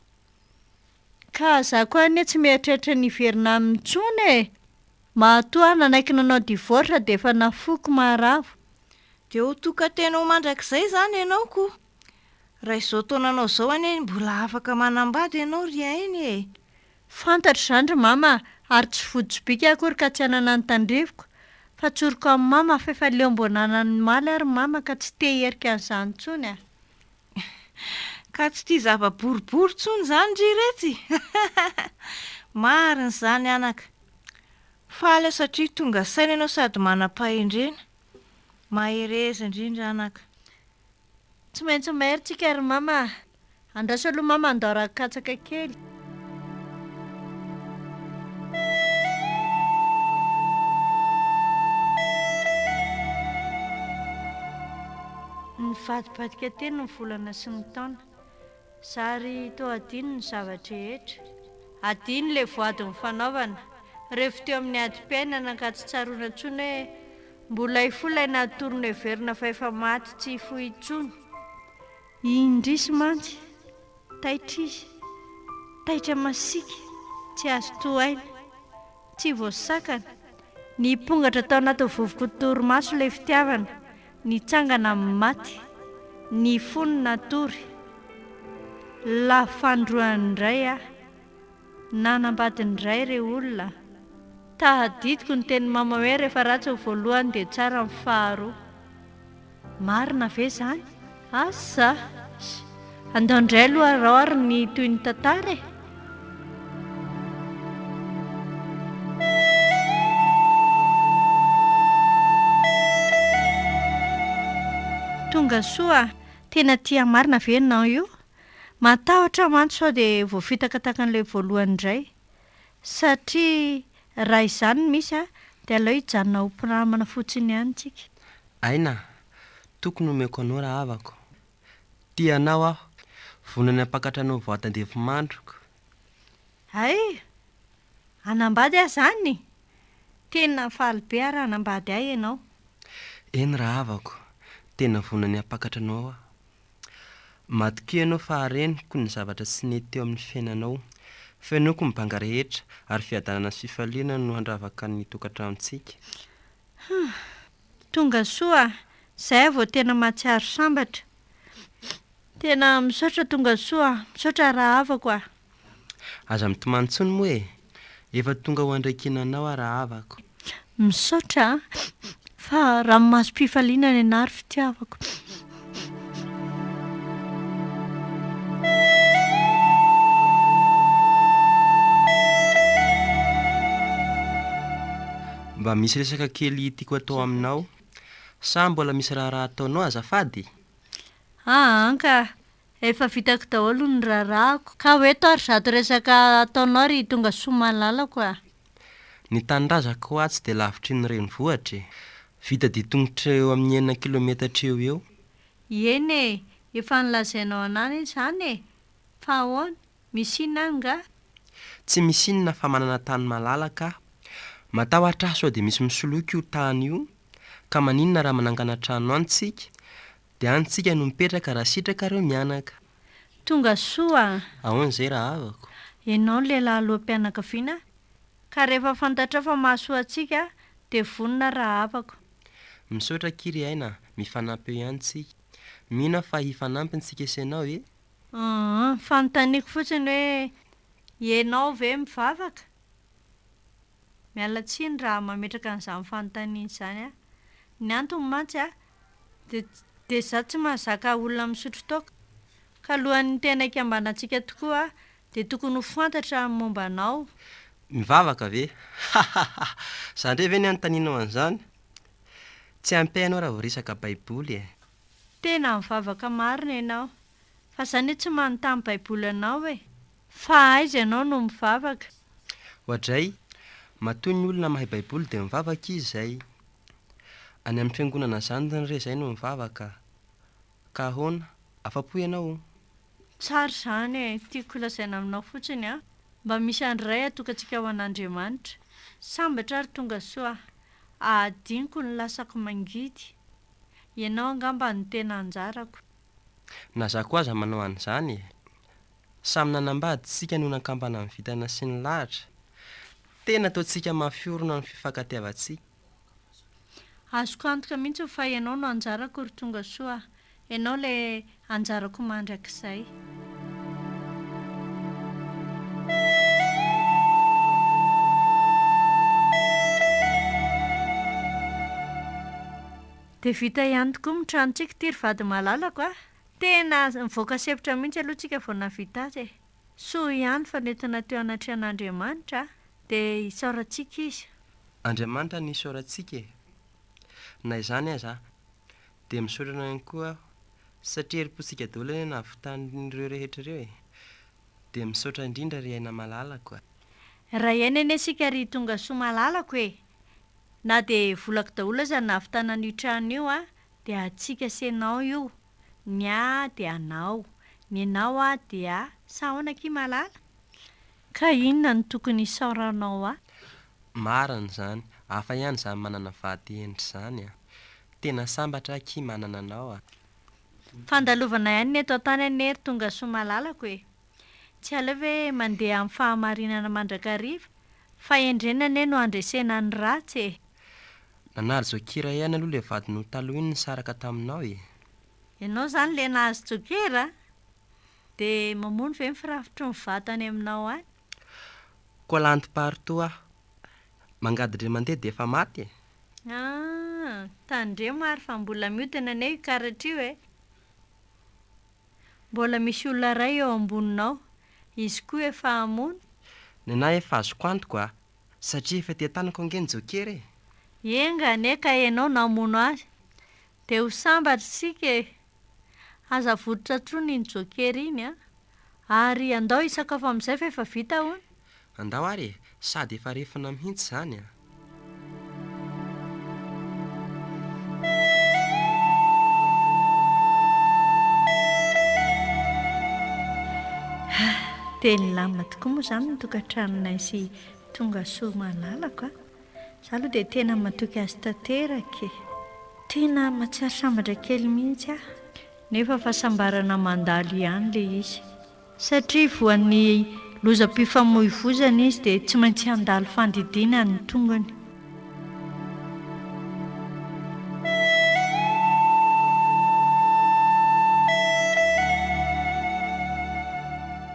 Ka za koa anie tsy mieritreritra ny hiverina aminy intsony e! Mahatoa aho nanaiky nanao divorce dia efa nafoiko maravo. Dia ho tokan-tena ho mandrakizay izany ianao ko! Raha izao taonanao izao anie mbola afaka manambady ianao ry ainy e! Fantatro izany ry mama ary tsy vody sobika aho akory ka tsy hanana ny tandrifiko fa tsoriko amin'i mama f'efa leo mbo nanana omaly aho ry mama ka tsy te hierika an'izany intsony a! Ka tsy tia zava-boribory intsony izany ry iretsy? Marina izany anaka! Faly aho satria tonga saina ianao sady manam-pahendrena. Mahereza indrindra anaka. Tsy maintsy mahery tsika ry mama a! Andraso aloha mama handao rakatsaka kely. Nivadibadika teny ny volana sy ny taona. Zary toa hadino ny zava-drehetra. Hadino ilay voady nifanaovana. Revo teo amin'ny adim-piainana ka tsy tsaroana intsony hoe mbola hifoha ilay natory noheverina fa efa maty tsy hifoha intsony. Indrisy mantsy, taitra izy, taitra masiaka, tsy azo tohaina, tsy voasakana, nipongatra tao anatin'ny vovoky torimaso ilay fitiavana, nitsangana amin'ny maty, ny fony natory. La fandroany indray aho. Nanambady indray re olona. Tadidiko ny tenin'i mama hoe rehefa ratsy ny voalohany dia tsara ny faharoa. Marina ve zany? Asa! Andao indray aloha arary ny toy ny tantara e! Tonga soa a! Tena tia marina ve ianao io? Matahotra mantsy sao dia voafitakatakan'ilay voalohany indray. Satria raha izany no misy dia aleo hijanona ho mpinamana fotsiny ihany tsika. Aina, tokony omeko anao rahavako. Tia anao aho. Vonona ny hampakatra anao voatandefy mandroko. Hay! Hanambady aho izany? Tena faly be ary hanambady ahy ianao. Eny rahavako, tena vonona ny hampakatra anao aho. Matokia ianao fa hareniko ny zavatra tsy nety teo amin'ny fiainanao. Fenoiko ny banga rehetra, ary fiadanana sy fifaliana no handravaka ny tokantranontsika. Hum. Tonga soa ah. Zay vao tena mahatsiaro sambatra. Tena misaotra Tongasoa ah. Misaotra rahavako ah. Aza mitomany intsony moa e! Efa tonga ho andraikiana anao aho rahavako. Misaotra a! Fa ranomasom-pifaliana ny anah ry fitiavako. Mba misy resaka kely tiako atao aminao. Sa mbola misy raharaha ataonao azafady? Aa ka! Efa vitako daholo ny raharahako. Ka ho eto aho ry zato resaka ataonao ry tonga soa malalako a. Ny tanindrazako hoa tsy dia lavitry ny renivohitra e. Vita dia tongotra eo amin'ny enina kilometatra eo ho eo. Eny e, efa nolazainao anah anie izany e. Fa ahoana? Misy inona any nga? Tsy misy inona fa manana tany malalaka aho. Matahotra aho sao dia misy misoloky io tany io. Ka maninona raha manangana trano any tsika? Dia any tsika no mipetraka raha sitraka reo mianaka. Tonga soa a! Ahoana izay rahavako? Enao lehilahy alohampianakaviana ka rehefa fantatrao fa mahasoa antsika dia vonona rahavako. Misaotra ki ry aina a! Mifanampy eo ihany tsika. Mino aho fa hifanampy ny tsika sy enao e! Aa! Fanontaniako fotsiny hoe enao ve mivavaka? Miala tsiny raha mametraka an'izany fanontaniana izany aho. Ny antony mantsy a! Dia dia izaho tsy mahazaka olona misotro toaka. Ka alohan'ny tena hikambanantsika tokoa aho, dia tokony ho fantatra ny momba anao. Mivavaka ve? Hahaha! Za indray ve ny hanontanianao an'izany? Tsy ampy ahy ianao raha vao resaka Baiboly e! Tena mivavaka marina ianao. Fa za ne tsy manontany baiboly anao e! Fa aiza ianao no mivavaka? Oadray, matoa ny olona mahay baiboly dia mivavaka izy zay. Any amin'ny fiangonana zandriny re zay no mivavaka. Ka ahoana? Afa-po ianao? Tsara izany e! Tiako lazaina aminao fotsiny an! Mba misy andro iray hatokantsika ho an'Andriamanitra. Sambatra ary tonga soa. Ahadinko ny lasako mangidy. Ianao angamba no tena anjarako. Na za ko aza manao an'izany e! Samy nanambady tsika no nankampana ny vintana sy ny lahatra. Tena ataontsika mafy orina ny fifankatiavantsika. Azoko antoka mintsiny fa enao no anjarako ry Tongasoa a! Enao le anjarako mandrakizay. Dia vita ihany tokoa mitrano tsika ity ry vady malalako a! Tena nivoaka sepotra mihitsy aloha tsika vao nahavita azy e! Soa ihany fa nentina teo anatrehan'Andriamanitra a! Dia isaorantsika Izy. Andriamanitra no isaorantsika e! Na izany aza dia misaotra Anao ihany koa aho satria herim-pontsika daholo anie nahavitan'ireo rehetra ireo e! Dia misaotra indrindra ry Aina malalako a! Raha hiaina anie isika ry Tongasoa malalako e! Na dia volako daholo aza ny nahavitana an'io trano io an, dia antsika sy ianao io, ny ahy dia anao, ny anao aho dia sa ahoana akia malala? Ka inona no tokony hisaoranao ahy? Marina izany, hafa ihany izany manana vady hendry izany an! Tena sambatra aho akia manana anao an! Fandalovana ihany ny eto an-tany anie ry tongasoa malalako e! Tsy aleo ve mandeha amin'ny fahamarinana mandrakariva Fahendrena anie no andresena ny ratsy e! Nanary jokera ihany aloha le vadiny ho taloha iny nisaraka taminao e! Ianao izany le nahazo jokera? De mamono ve ny firafitry ny vato any aminao any? Koa landy partout aho! Mangady ndray mandeha de efa maty e! Ah! Tandremo ary fa mbola mioty ny anay io karatra io e! Mbola misy olona iray eo amboninao. Izy koa efa hamono? Nenaha efa azoko antoka a! Satria efa tia taniko ange ny Jokera e! Enga anie ka ianao namono azy dia ho sambatra isika e! Aza avototra intsony iny Jokera iny a! Ary andao hisakafo amin'izay fa efa vita hono! Andao ary e! Sady efa refona mihintsy izany an! Dia nilamina tokoa moa izany ny tokantranonay sy Tongasoa malalako a! Izaho aloha dia tena matoky azy tanteraka e! Tena mahatsiaro sambatra kely mihintsy aho! Nefa fahasambarana mandalo ihany ilay izy. Satria voan'ny lozam-pifamoivozana izy dia tsy maintsy handalo fandidiana ny tongony.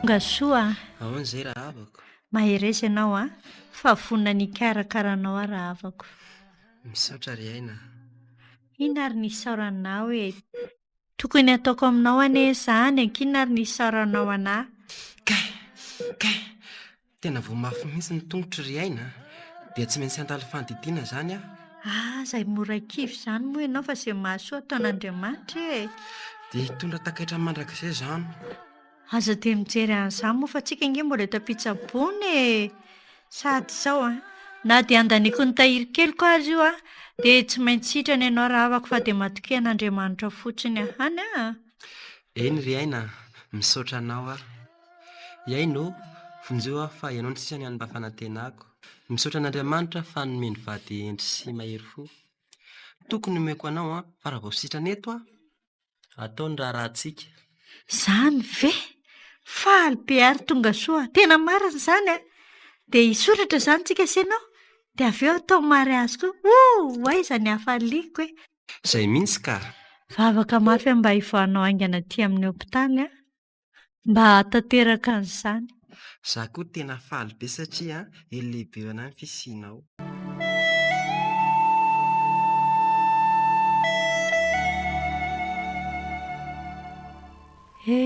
Tonga soa an! Ahoana izay rahavako? Mahereza ianao an! Fa vonona ny hikarakara anao aho rahavako. Misaotra ry aina a! Inona ary ny isaoranao e? Tokony ataoko aminao anie izany, ankinina ary ny hisaoranao anà. Kay! Kay! Tena voa mafy mihitsy ny tongotro ry aina a! Dia tsy maintsy handalo fandidiana izany aho. Ah, izay mora kivy izany moa ianao fa izay mahasoa ataon'Andriamanitra e! Dia hitondra takaitra mandrakizay izany. Aza dia mijery an'izany moa fa tsika ange mbola eto am-pitsaboana e! Sady izao an, na dia andaniako ny tahirikeliko aza io an, dia tsy maintsy sitrana ianao rahavako fa dia matokia an'Andriamanitra fotsiny aho any an! Eny ry aina a! Misaotra anao aho. I aina o! Vonjeo aho fa ianao no sisa ihany mba fanantenako. Misaotra an'Andriamanitra fa nomeny vady hendry sy mahery fo. Tokony omeko anao an, fa raha vao sitrana eto aho, Atao ny raharahantsika. Zany ve? Faly be ary tonga soa. Tena marina izany an! Dia hisoratra izany tsika sy ianao, dia avy eo atao mariazy koa. Ouh! Aiza ny hafaliako e! Izay mihitsy ka! Vavaka mafy aho mba hifohanao haingana aty amin'ny hopitaly an! mba hahatanteraka an'izany. Za koa tena faly be satria elo lehibe eo anay ny fisianao. He!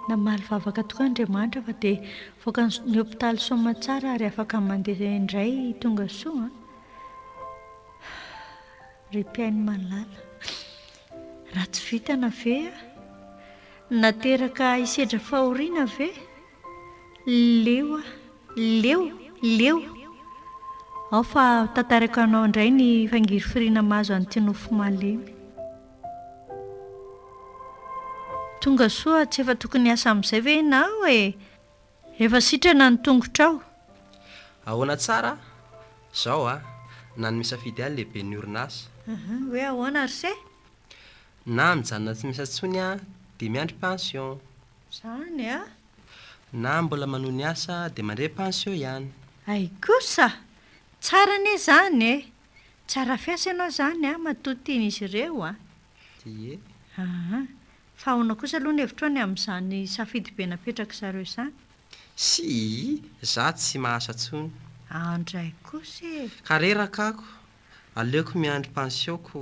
Namaly vavaka tokoa Andriamanitra fa dia avoaka ny hopitaly soamatsara ary afaka mandeha indray Tongasoa an! Ry mpihaino malala. Raha tsy vintana ve aho? Nateraka hisedra fahoriana ve? Leo aho, leo, leo! Ao fa hotantarako anao indray ny fangirifiriana mahazo an'ity nofo malemy. Tonga soa, tsy efa tokony hiasa amin'izay ve ianao e? Efa sitrana ny tongotrao? Ahoana tsara? Zao a! Nanome safidy ahy ny lehiben'ny orinasa. Ahaa, hoe ahoana ry se? Na mijanona tsy miasa intsony aho dia miandry pension. Zany a! Na mbola manohy ny asa dia mandray pension ihany. Hay kosa! Tsara anie izany e! Tsara fiasa ianao izany a! Matoa tian'izy ireo a! Dia? Ahaa, Fa ahoana kosa aloha ny hevitrao ny amin'izany safidy be napetrak'i zareo izany? Sii, za tsy mahasa tsony. An dray kosa e! Ka reraka ako, aleoko miandry pension-ko.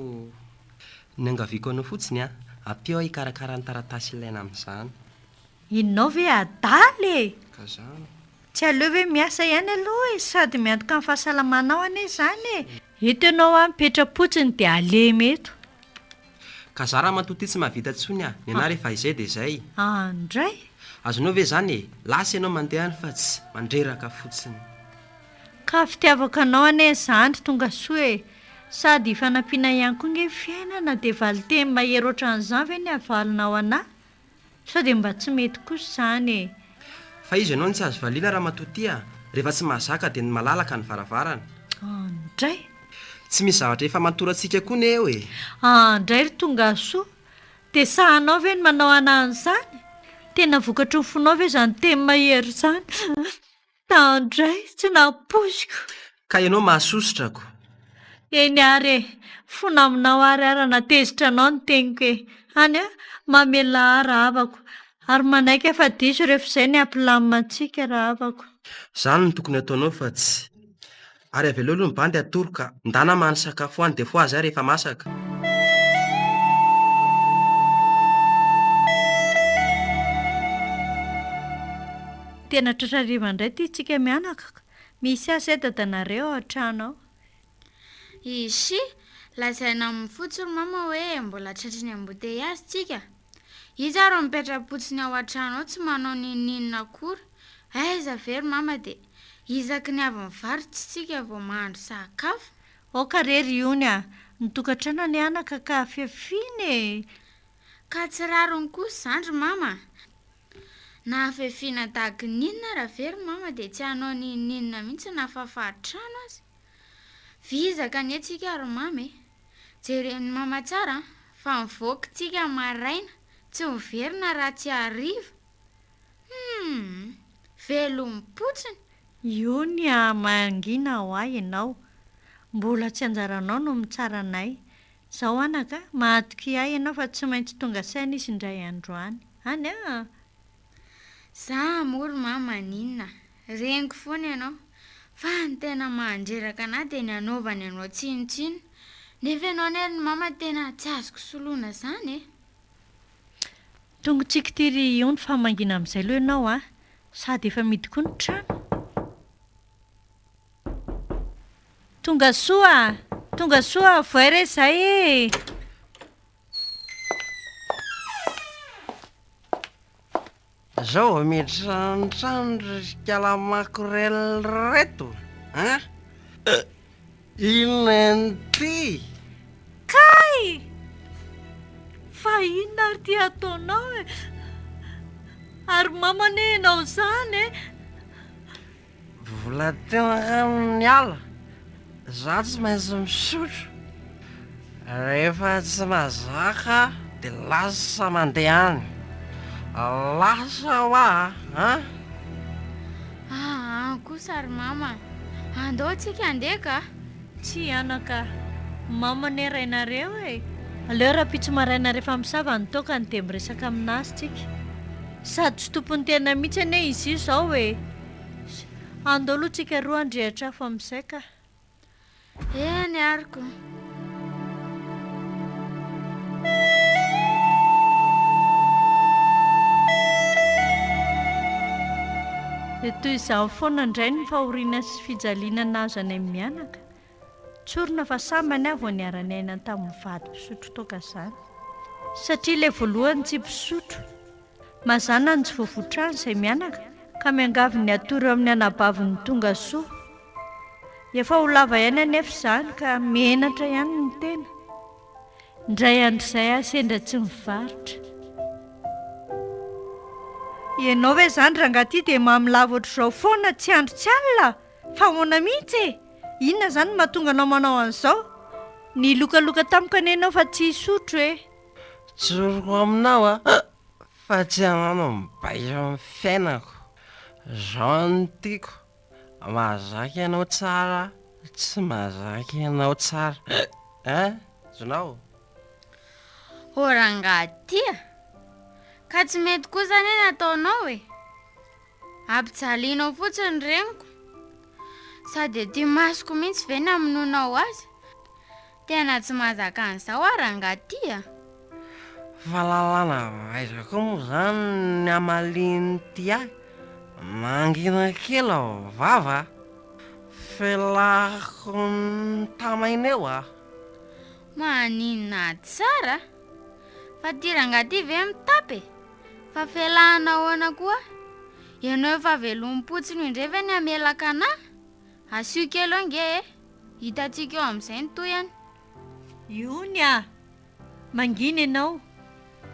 Niangaviako anao fotsiny an, ampio aho hikarakara ny taratasy ilaina amin'izany. Ianao ve adala e! Ka zany. Tsy aleo ve miasa ihany aloha e, sady miantoka amin'ny fahasalamanao anie izany e! Eto ianao an, mipetra-potsiny dia alemy eto. Ka za raha matoa ty tsy mahavita tsony ah, ny anah rehefa izay dia izay. Ah ndray! Azonao ve zany e! Lasa ianao mandeha any fa tsy mandreraka fotsiny. Ka fitiavako anao anie zandry tonga soa e! Sady ifanampiana ihany koa nge fiainana dia valin-teny mahery ohatran'izany ve ny havalona ao anah? Sao dia mba tsy mety kosa izany e! Fa izy ianao no tsy azo valiana ramatoa ty a! Rehefa tsy mahazaka dia ny malalaka ny varavarana. Andray! Tsy misy zavatra efa matorantsika koa ne eo e! Andray ry Tongasoa! Dia sahanao ve ny manao anan'izany? Tena vokatry ny fonao ve izany teny mahery izany? Tandray tsy nampoiziko. Ka ianao mahasosotra ko. Eny ary e! Fona aminao ary aho raha natezitra anao ny teniko e! Any a! Mamelà ahy rahavako. Ary manaiky aho fa diso rehefa izay ny hampilamina antsika rahavako. Izany no tokony hataonao fa tsy. ary aveleo aloha ny bandy hatoroka, ndana many sakafo any dia fohaza ahy rehefa masaka. Tena tratra riva indray ity tsika mianaka ka! Misy asa eto dadanareo ao an-trano ao. Ishi! Lazaina aminy fotsiny ry mama hoe mbola tratry ny embouteillage tsika. Iza ary no mipetra-potsiny ao an-trano ao tsy manao n'inon'inona akory? Aiza ve ry mama dia isaky ny avy mivarotra isika vao mahandro sakafo? Aoka re ry ony a! Ny tokantrano anie anaka ka afefiny e! Ka tsy rariny kosa izany ry mama a! Na afefina tahaky ny inona ary ve ry mama dia tsy hanao n'inon'inona mihitsy na fafa-trano aza? Vizaka anie tsika ry mama e! Jeren'i mama tsara an, fa mivoak tsika maraina tsy miverina raha tsy hariva. Humm. Velom-potsiny. Io ny haha mangina ho ahy ianao. Mbola tsy anjaranao no mitsara anay. Zao anaka, mahatokia ahy ianao fa tsy maintsy tonga saina izy indray andro any. Any an! Za moa ry mama maninona? Reniko foana ianao. Fa ny tena mandreraka anah dia ny anaovany anao tsinontsinona. Nefa ianao anie ry mama tena tsy azoko soloina zany e. Tongotsiky ty ry io ny famangiana amin'izay lo ianao a! Sady efa midy koa ny trano. Tongasoa! Tongasoa! Voay re izay e! Zao vao miditra trano ry kalamako rel reto an! Inona an'ity? Kay! Fa inona ary ty ataonao e? Ary mama anie ianao zany e! Mbola teo angamba ny ala, za tsy maintsy misotro, rehefa tsy mazaka aho de lasa mandeha any, lasa hoa an! Aa kosa ry mama, andao tsika handeha ka. Tsia anaka. Maman ne rainareo e. Aleo rahampitso maraina rehefa misava ny tôkany dia miresaka aminazy tsika. Sady tsy tompony tena mihitsy anie izy io zao e. Andao aloha tsika roa handrehitra afo amin'izay ka. Eny arko. Dia toy izany foana indray ny fahoriana sy. Fijaliana nahazo anay mianaka. Tsorina fa sambany aho vao niara-niaina tamin'ny vady mpisotro toaka izany. Satria ilay voalohany tsy mpisotro. Mazàna ny tsy voavotrany izay mianaka ka miangavy ny hatory eo amin'ny anabavin'ny tonga soa. Efa ho lava ihany anefa izany ka mihenatra ihany ny tena. Indray andro izay aho sendra tsy mivarotra. Ianao ve izany rangahy ity dia mamilavo ohatr'izao foana tsy andro tsy alina? Fa ahoana mihitsy e? Inona izany no mahatonga anao manao an'izao? Nilokaloka tamiko anie ianao fa tsy hisotro e! Tsoriko aminao a! Fa tsy ianao no mibaiko ny fiainako. Izao no tiako. Mahazaka ianao tsara tsy mahazaka ianao tsara hein zonao? Ô rangahy tia! Ka tsy mety kosa anie ny ataonao e! Ampijalianao fotsiny ny reniko! Sady aty masoko mihitsy ve ny hamonoanao azy? Tena tsy mahazaka an'izao aho rangahy ty a! Fahalalana aiza koa moa izany ny hamalian'ity ahy? Mangina kely ao vava a! Felahiko mitamaina eo a! Maninona tsara? Fa ty rangahy ty ve mitapy e? Fa felahana ahoana koa? Ianao efa velom-po tsy noho indray ve ny hamelaka anah? Asio kely eo nge e! Hitantsika eo amin'izay ny tohiny. Iony a! Mangina ianao.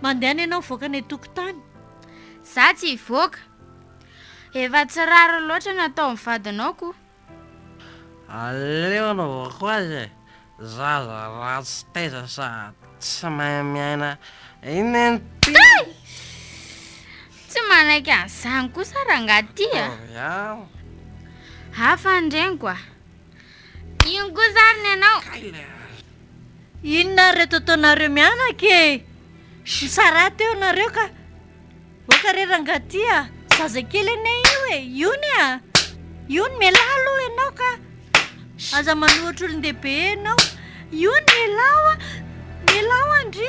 Mandehana ianao voaka any an-tokotany. Za tsy hivoaka. Efa tsy rariny loatra ny ataon'ny vadinao ko. Aleo anaovako azy e! Zaza ratsy taiza sady tsy mahay miaina iny ity! Kay! Tsy manaiky an'izany kosa rangahy ty a! Ovy an! Hafa ny reniko a! Ino koa za ry nenao? Inona ary eto ataonareo mianaka e? Mpisaraha teo nareo ka. Oka re rangaha ty a, zazakely anie io e, io ny a! Io ny mialà aloha ianao ka. Aza manohitra olon-dehibe ianao. Io ny mialà oa, mialà oa ndry.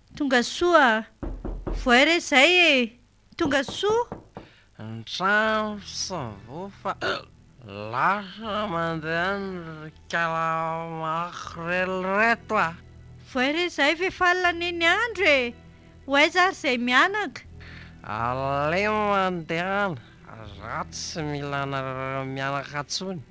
Tonga soa a! Voay re zay e! Tonga soa! Ny trano tsy voa fa lasa mandeha ny rikala makrely reto a! Voay re zay ve falina neny andro e! Ho aiza ary zay mianaka? Aleo mandehana, za tsy mila anareo mianaka tsony.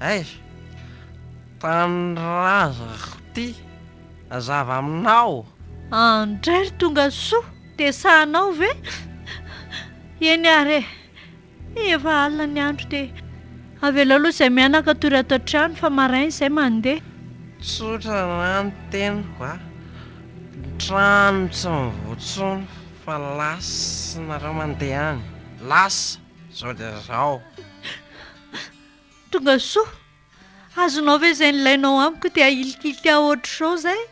Aiza? Tanindrazako ty hazava aminao. Andray ry Tongasoa, dia sahanao ve? Eny ary e! Efa alina ny andro dia avelao aloha izay mianaka hatory ato an-trano fa maraina izay mandeha. Tsotra angaha ny teniko a! Ny trano tsy mivoha intsony fa lasa nareo mandeha any. Lasa izao dia izao. Tonga soa! Azonao ve izay nilainao amiko dia ahilikilika ahy ohatr'izao izay?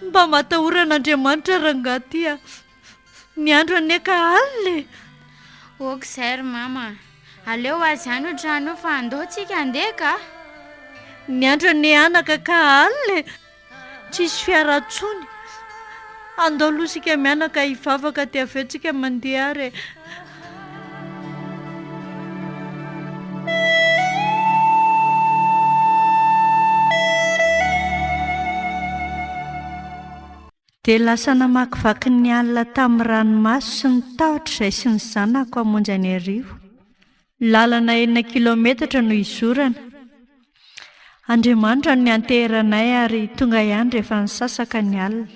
Mba matahora an'Andriamanitra rangaha ty a! Ny andro anie ka alina e! Ok izay ry mama a! Aleo ho azy ihany io trano io fa andao tsika handeha ka! Ny andro anie anaka ka alina e! Tsisy fiara tsony. Andao loha sika mianaka hivavaka de avy eo tsika mandeha ary e. Dia lasa namakivaky ny alina tamin'ny ranomaso sy ny tahotra izay sy ny zanako hamonjy an'i Arivo. Lalana enina kilaometatra no hizorana. Andriamanitra no nianteheranay ary tonga ihany rehefa nisasaka ny alina.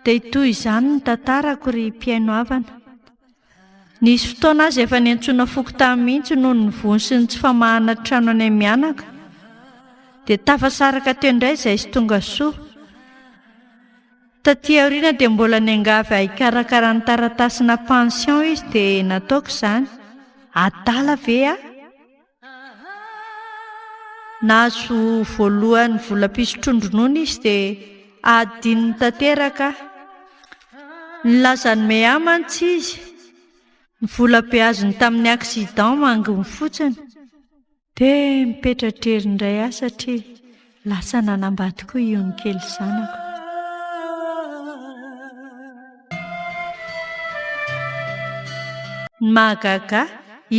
Dia toy izany ny tantarako ry mpihaino havana. Nisy fotoana aza efa niantsoana fokontany mihitsy noho ny vono sy ny tsy famahana trano anay mianaka. Dia tafasaraka teo indray izahay sy tonga soa. Taty aoriana dia mbola niangavy ahy hikarakara ny taratasina pension izy dia nataoko izany. Adala ve aho? Nahazo voalohany volam-pisotroan-dronono izy dia adinony tanteraka aho. Nilaza an'i Mea mantsy izy, ny vola be azony tamin'ny accident manginy fotsiny. Dia mipetra-drery indray aho satria lasa nanambady koa io ny kely zanako. Ny mahagaga,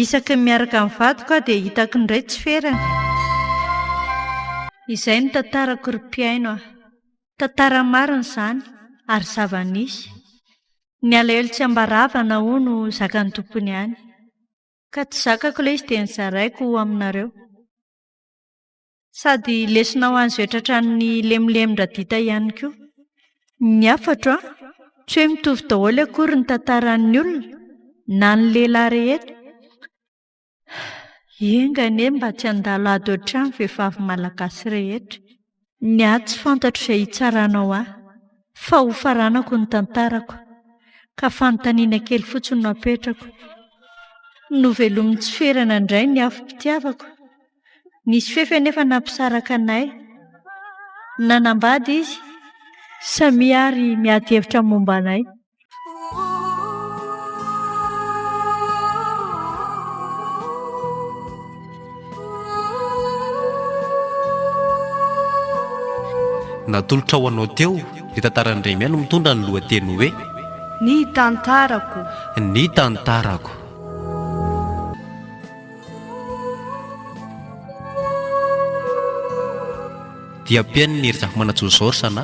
isaky ny miaraka amin'ny vadiko aho dia hitako indray tsy ferany. Izay no tantarako ry mpihaino a! Tantara marina izany ary zava-nisy. Ny alahelo tsy ambaravana hono zakan'ny tompony ihany. Ka tsy zakako ilay izy dia nozaraiko ho aminareo. Sady lesona ho an'izay tratran'ny lemolemo-dRadita ihany koa. Ny hafatro an, tsy hoe mitovy daholo akory ny tantaran'ny olona, na ny lehilahy rehetra. Enga anie mba tsy handalo ady hoatran'ny vehivavy malagasy rehetra. Ny ahy tsy fantatro izay hitsaranao ahy, fa hofaranako ny tantarako, ka fanontaniana kely fotsiny no apetrako. Novelomin'ny tsy ferana indray ny afom-pitiavako. Nisy fefy anefa nampisaraka anay. Nanambady izy, samia ary miady hevitra momba anay. Natolotra ho anao teo ny tantaran'Remia no mitondra ny lohateny hoe. Ny tantarako. Ny tantarako. Dia ampian'ny Ry Zafimanantsoa Georges na.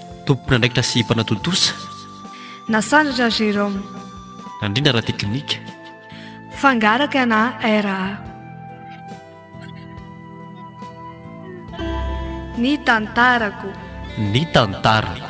Tompon'andraikitra sy mpanatontosa. Nassandra Ra Jérôme. Nandrindra Ra Teknika. Fangaraka Na RA. Ny tantarako. Ny tantarany.